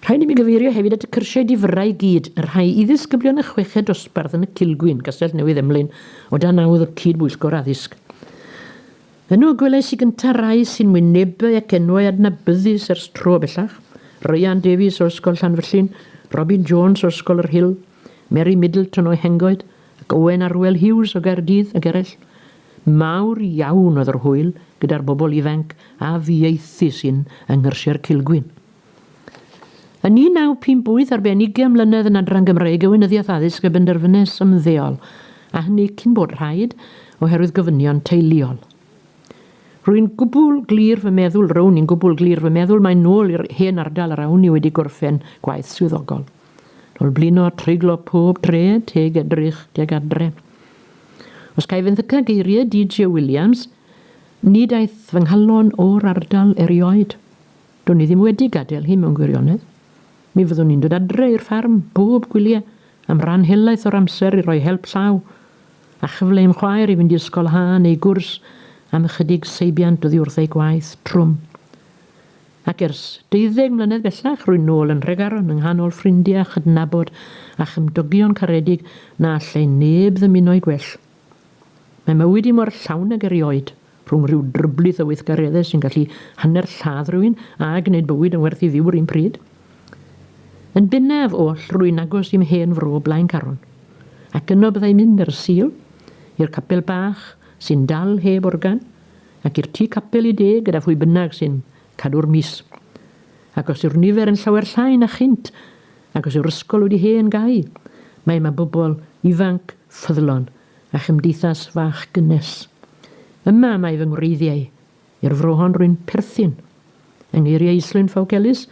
Rhaid i mi gyfeirio hefyd at y cyrsiau difyrrau i gyd, y rhai i ddisgyblion y chweched dosbarth yn y Cilgwyn, Castell Newydd Emlyn, o dan awdd y Cyd-bwyllgor Addysg. Yno gwelais i gyntaf rai sy'n wynebau ac enwau adnabyddus ers tro bellach, Ryan Davies o Ysgol Llanfyllin, Robin Jones o Ysgol yr Hill, Mary Middleton o Hengoed, ac Owen Arwel Hughes o Gaerdydd, ac eraill. Mawr iawn oedd yr hwyl gyda'r bobl ifainc a fieithu sy'n yng Nghyrsiau'r Cilgwyn. Yn 1958 ar ben ugain mlynedd yn Adran Gymraeg y Weinyddiaeth Addysg fe benderfynes ymddeol, a hynny cyn bod rhaid, oherwydd gofynion teuluol. Rwy'n gwbl glir fy meddwl, rown i'n gwbl glir fy meddwl, mae'n nôl i'r hen ardal yr awn i wedi gorffen gwaith swyddogol. Nol blino a treiglo pob dre teg edrych tuag adre. Os caef yn ddyca geirie DJ Williams, nid aeth fy nghalon o'r ardal erioed. Dwn i ddim wedi gadel hi mewn gwirionedd. Mi fyddwn i'n dod adre i'r ffarm bob gwylie am ran helaeth o'r amser i roi help llaw a chyfle i'm chwaer i fynd i ysgol ha neu gwrs am ychydig seibiant oddi wrth ei gwaith trwm. Ac ers deuddeg mlynedd bellach, rwy'n nôl yn Nhregaron, yng nghanol ffrindiau a chydnabod a chymdogion caredig na allai neb ddymuno'u gwell. Mae mywyd i mor llawn ag erioed, rhwng rhyw dryblith o weithgareddau sy'n gallu hanner lladd rhywun a gwneud bywyd yn werth ei fyw yr un pryd. Yn bennaf oll, rwy'n agos i'm hen fro Blaencaron, ac yno byddai'n mynd ar y Sul, i'r capel bach sy'n dal heb organ, ac i'r tŷ capel i de gyda phwy bynnag sy'n cadw'r mis. Ac os yw'r nifer yn llawer llai na chynt, ac os yw'r ysgol wedi hen gau, mae yma bobl ifanc ffyddlon a chymdeithas fach gynnes. Yma mae fy ngwreiddiau, i'r fro hon rwy'n perthyn. Yng ngeiriau Islwyn Fawgelys,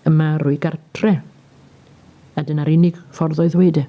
yma rwy gartre. A dyna'r unig ffordd o ddweud e.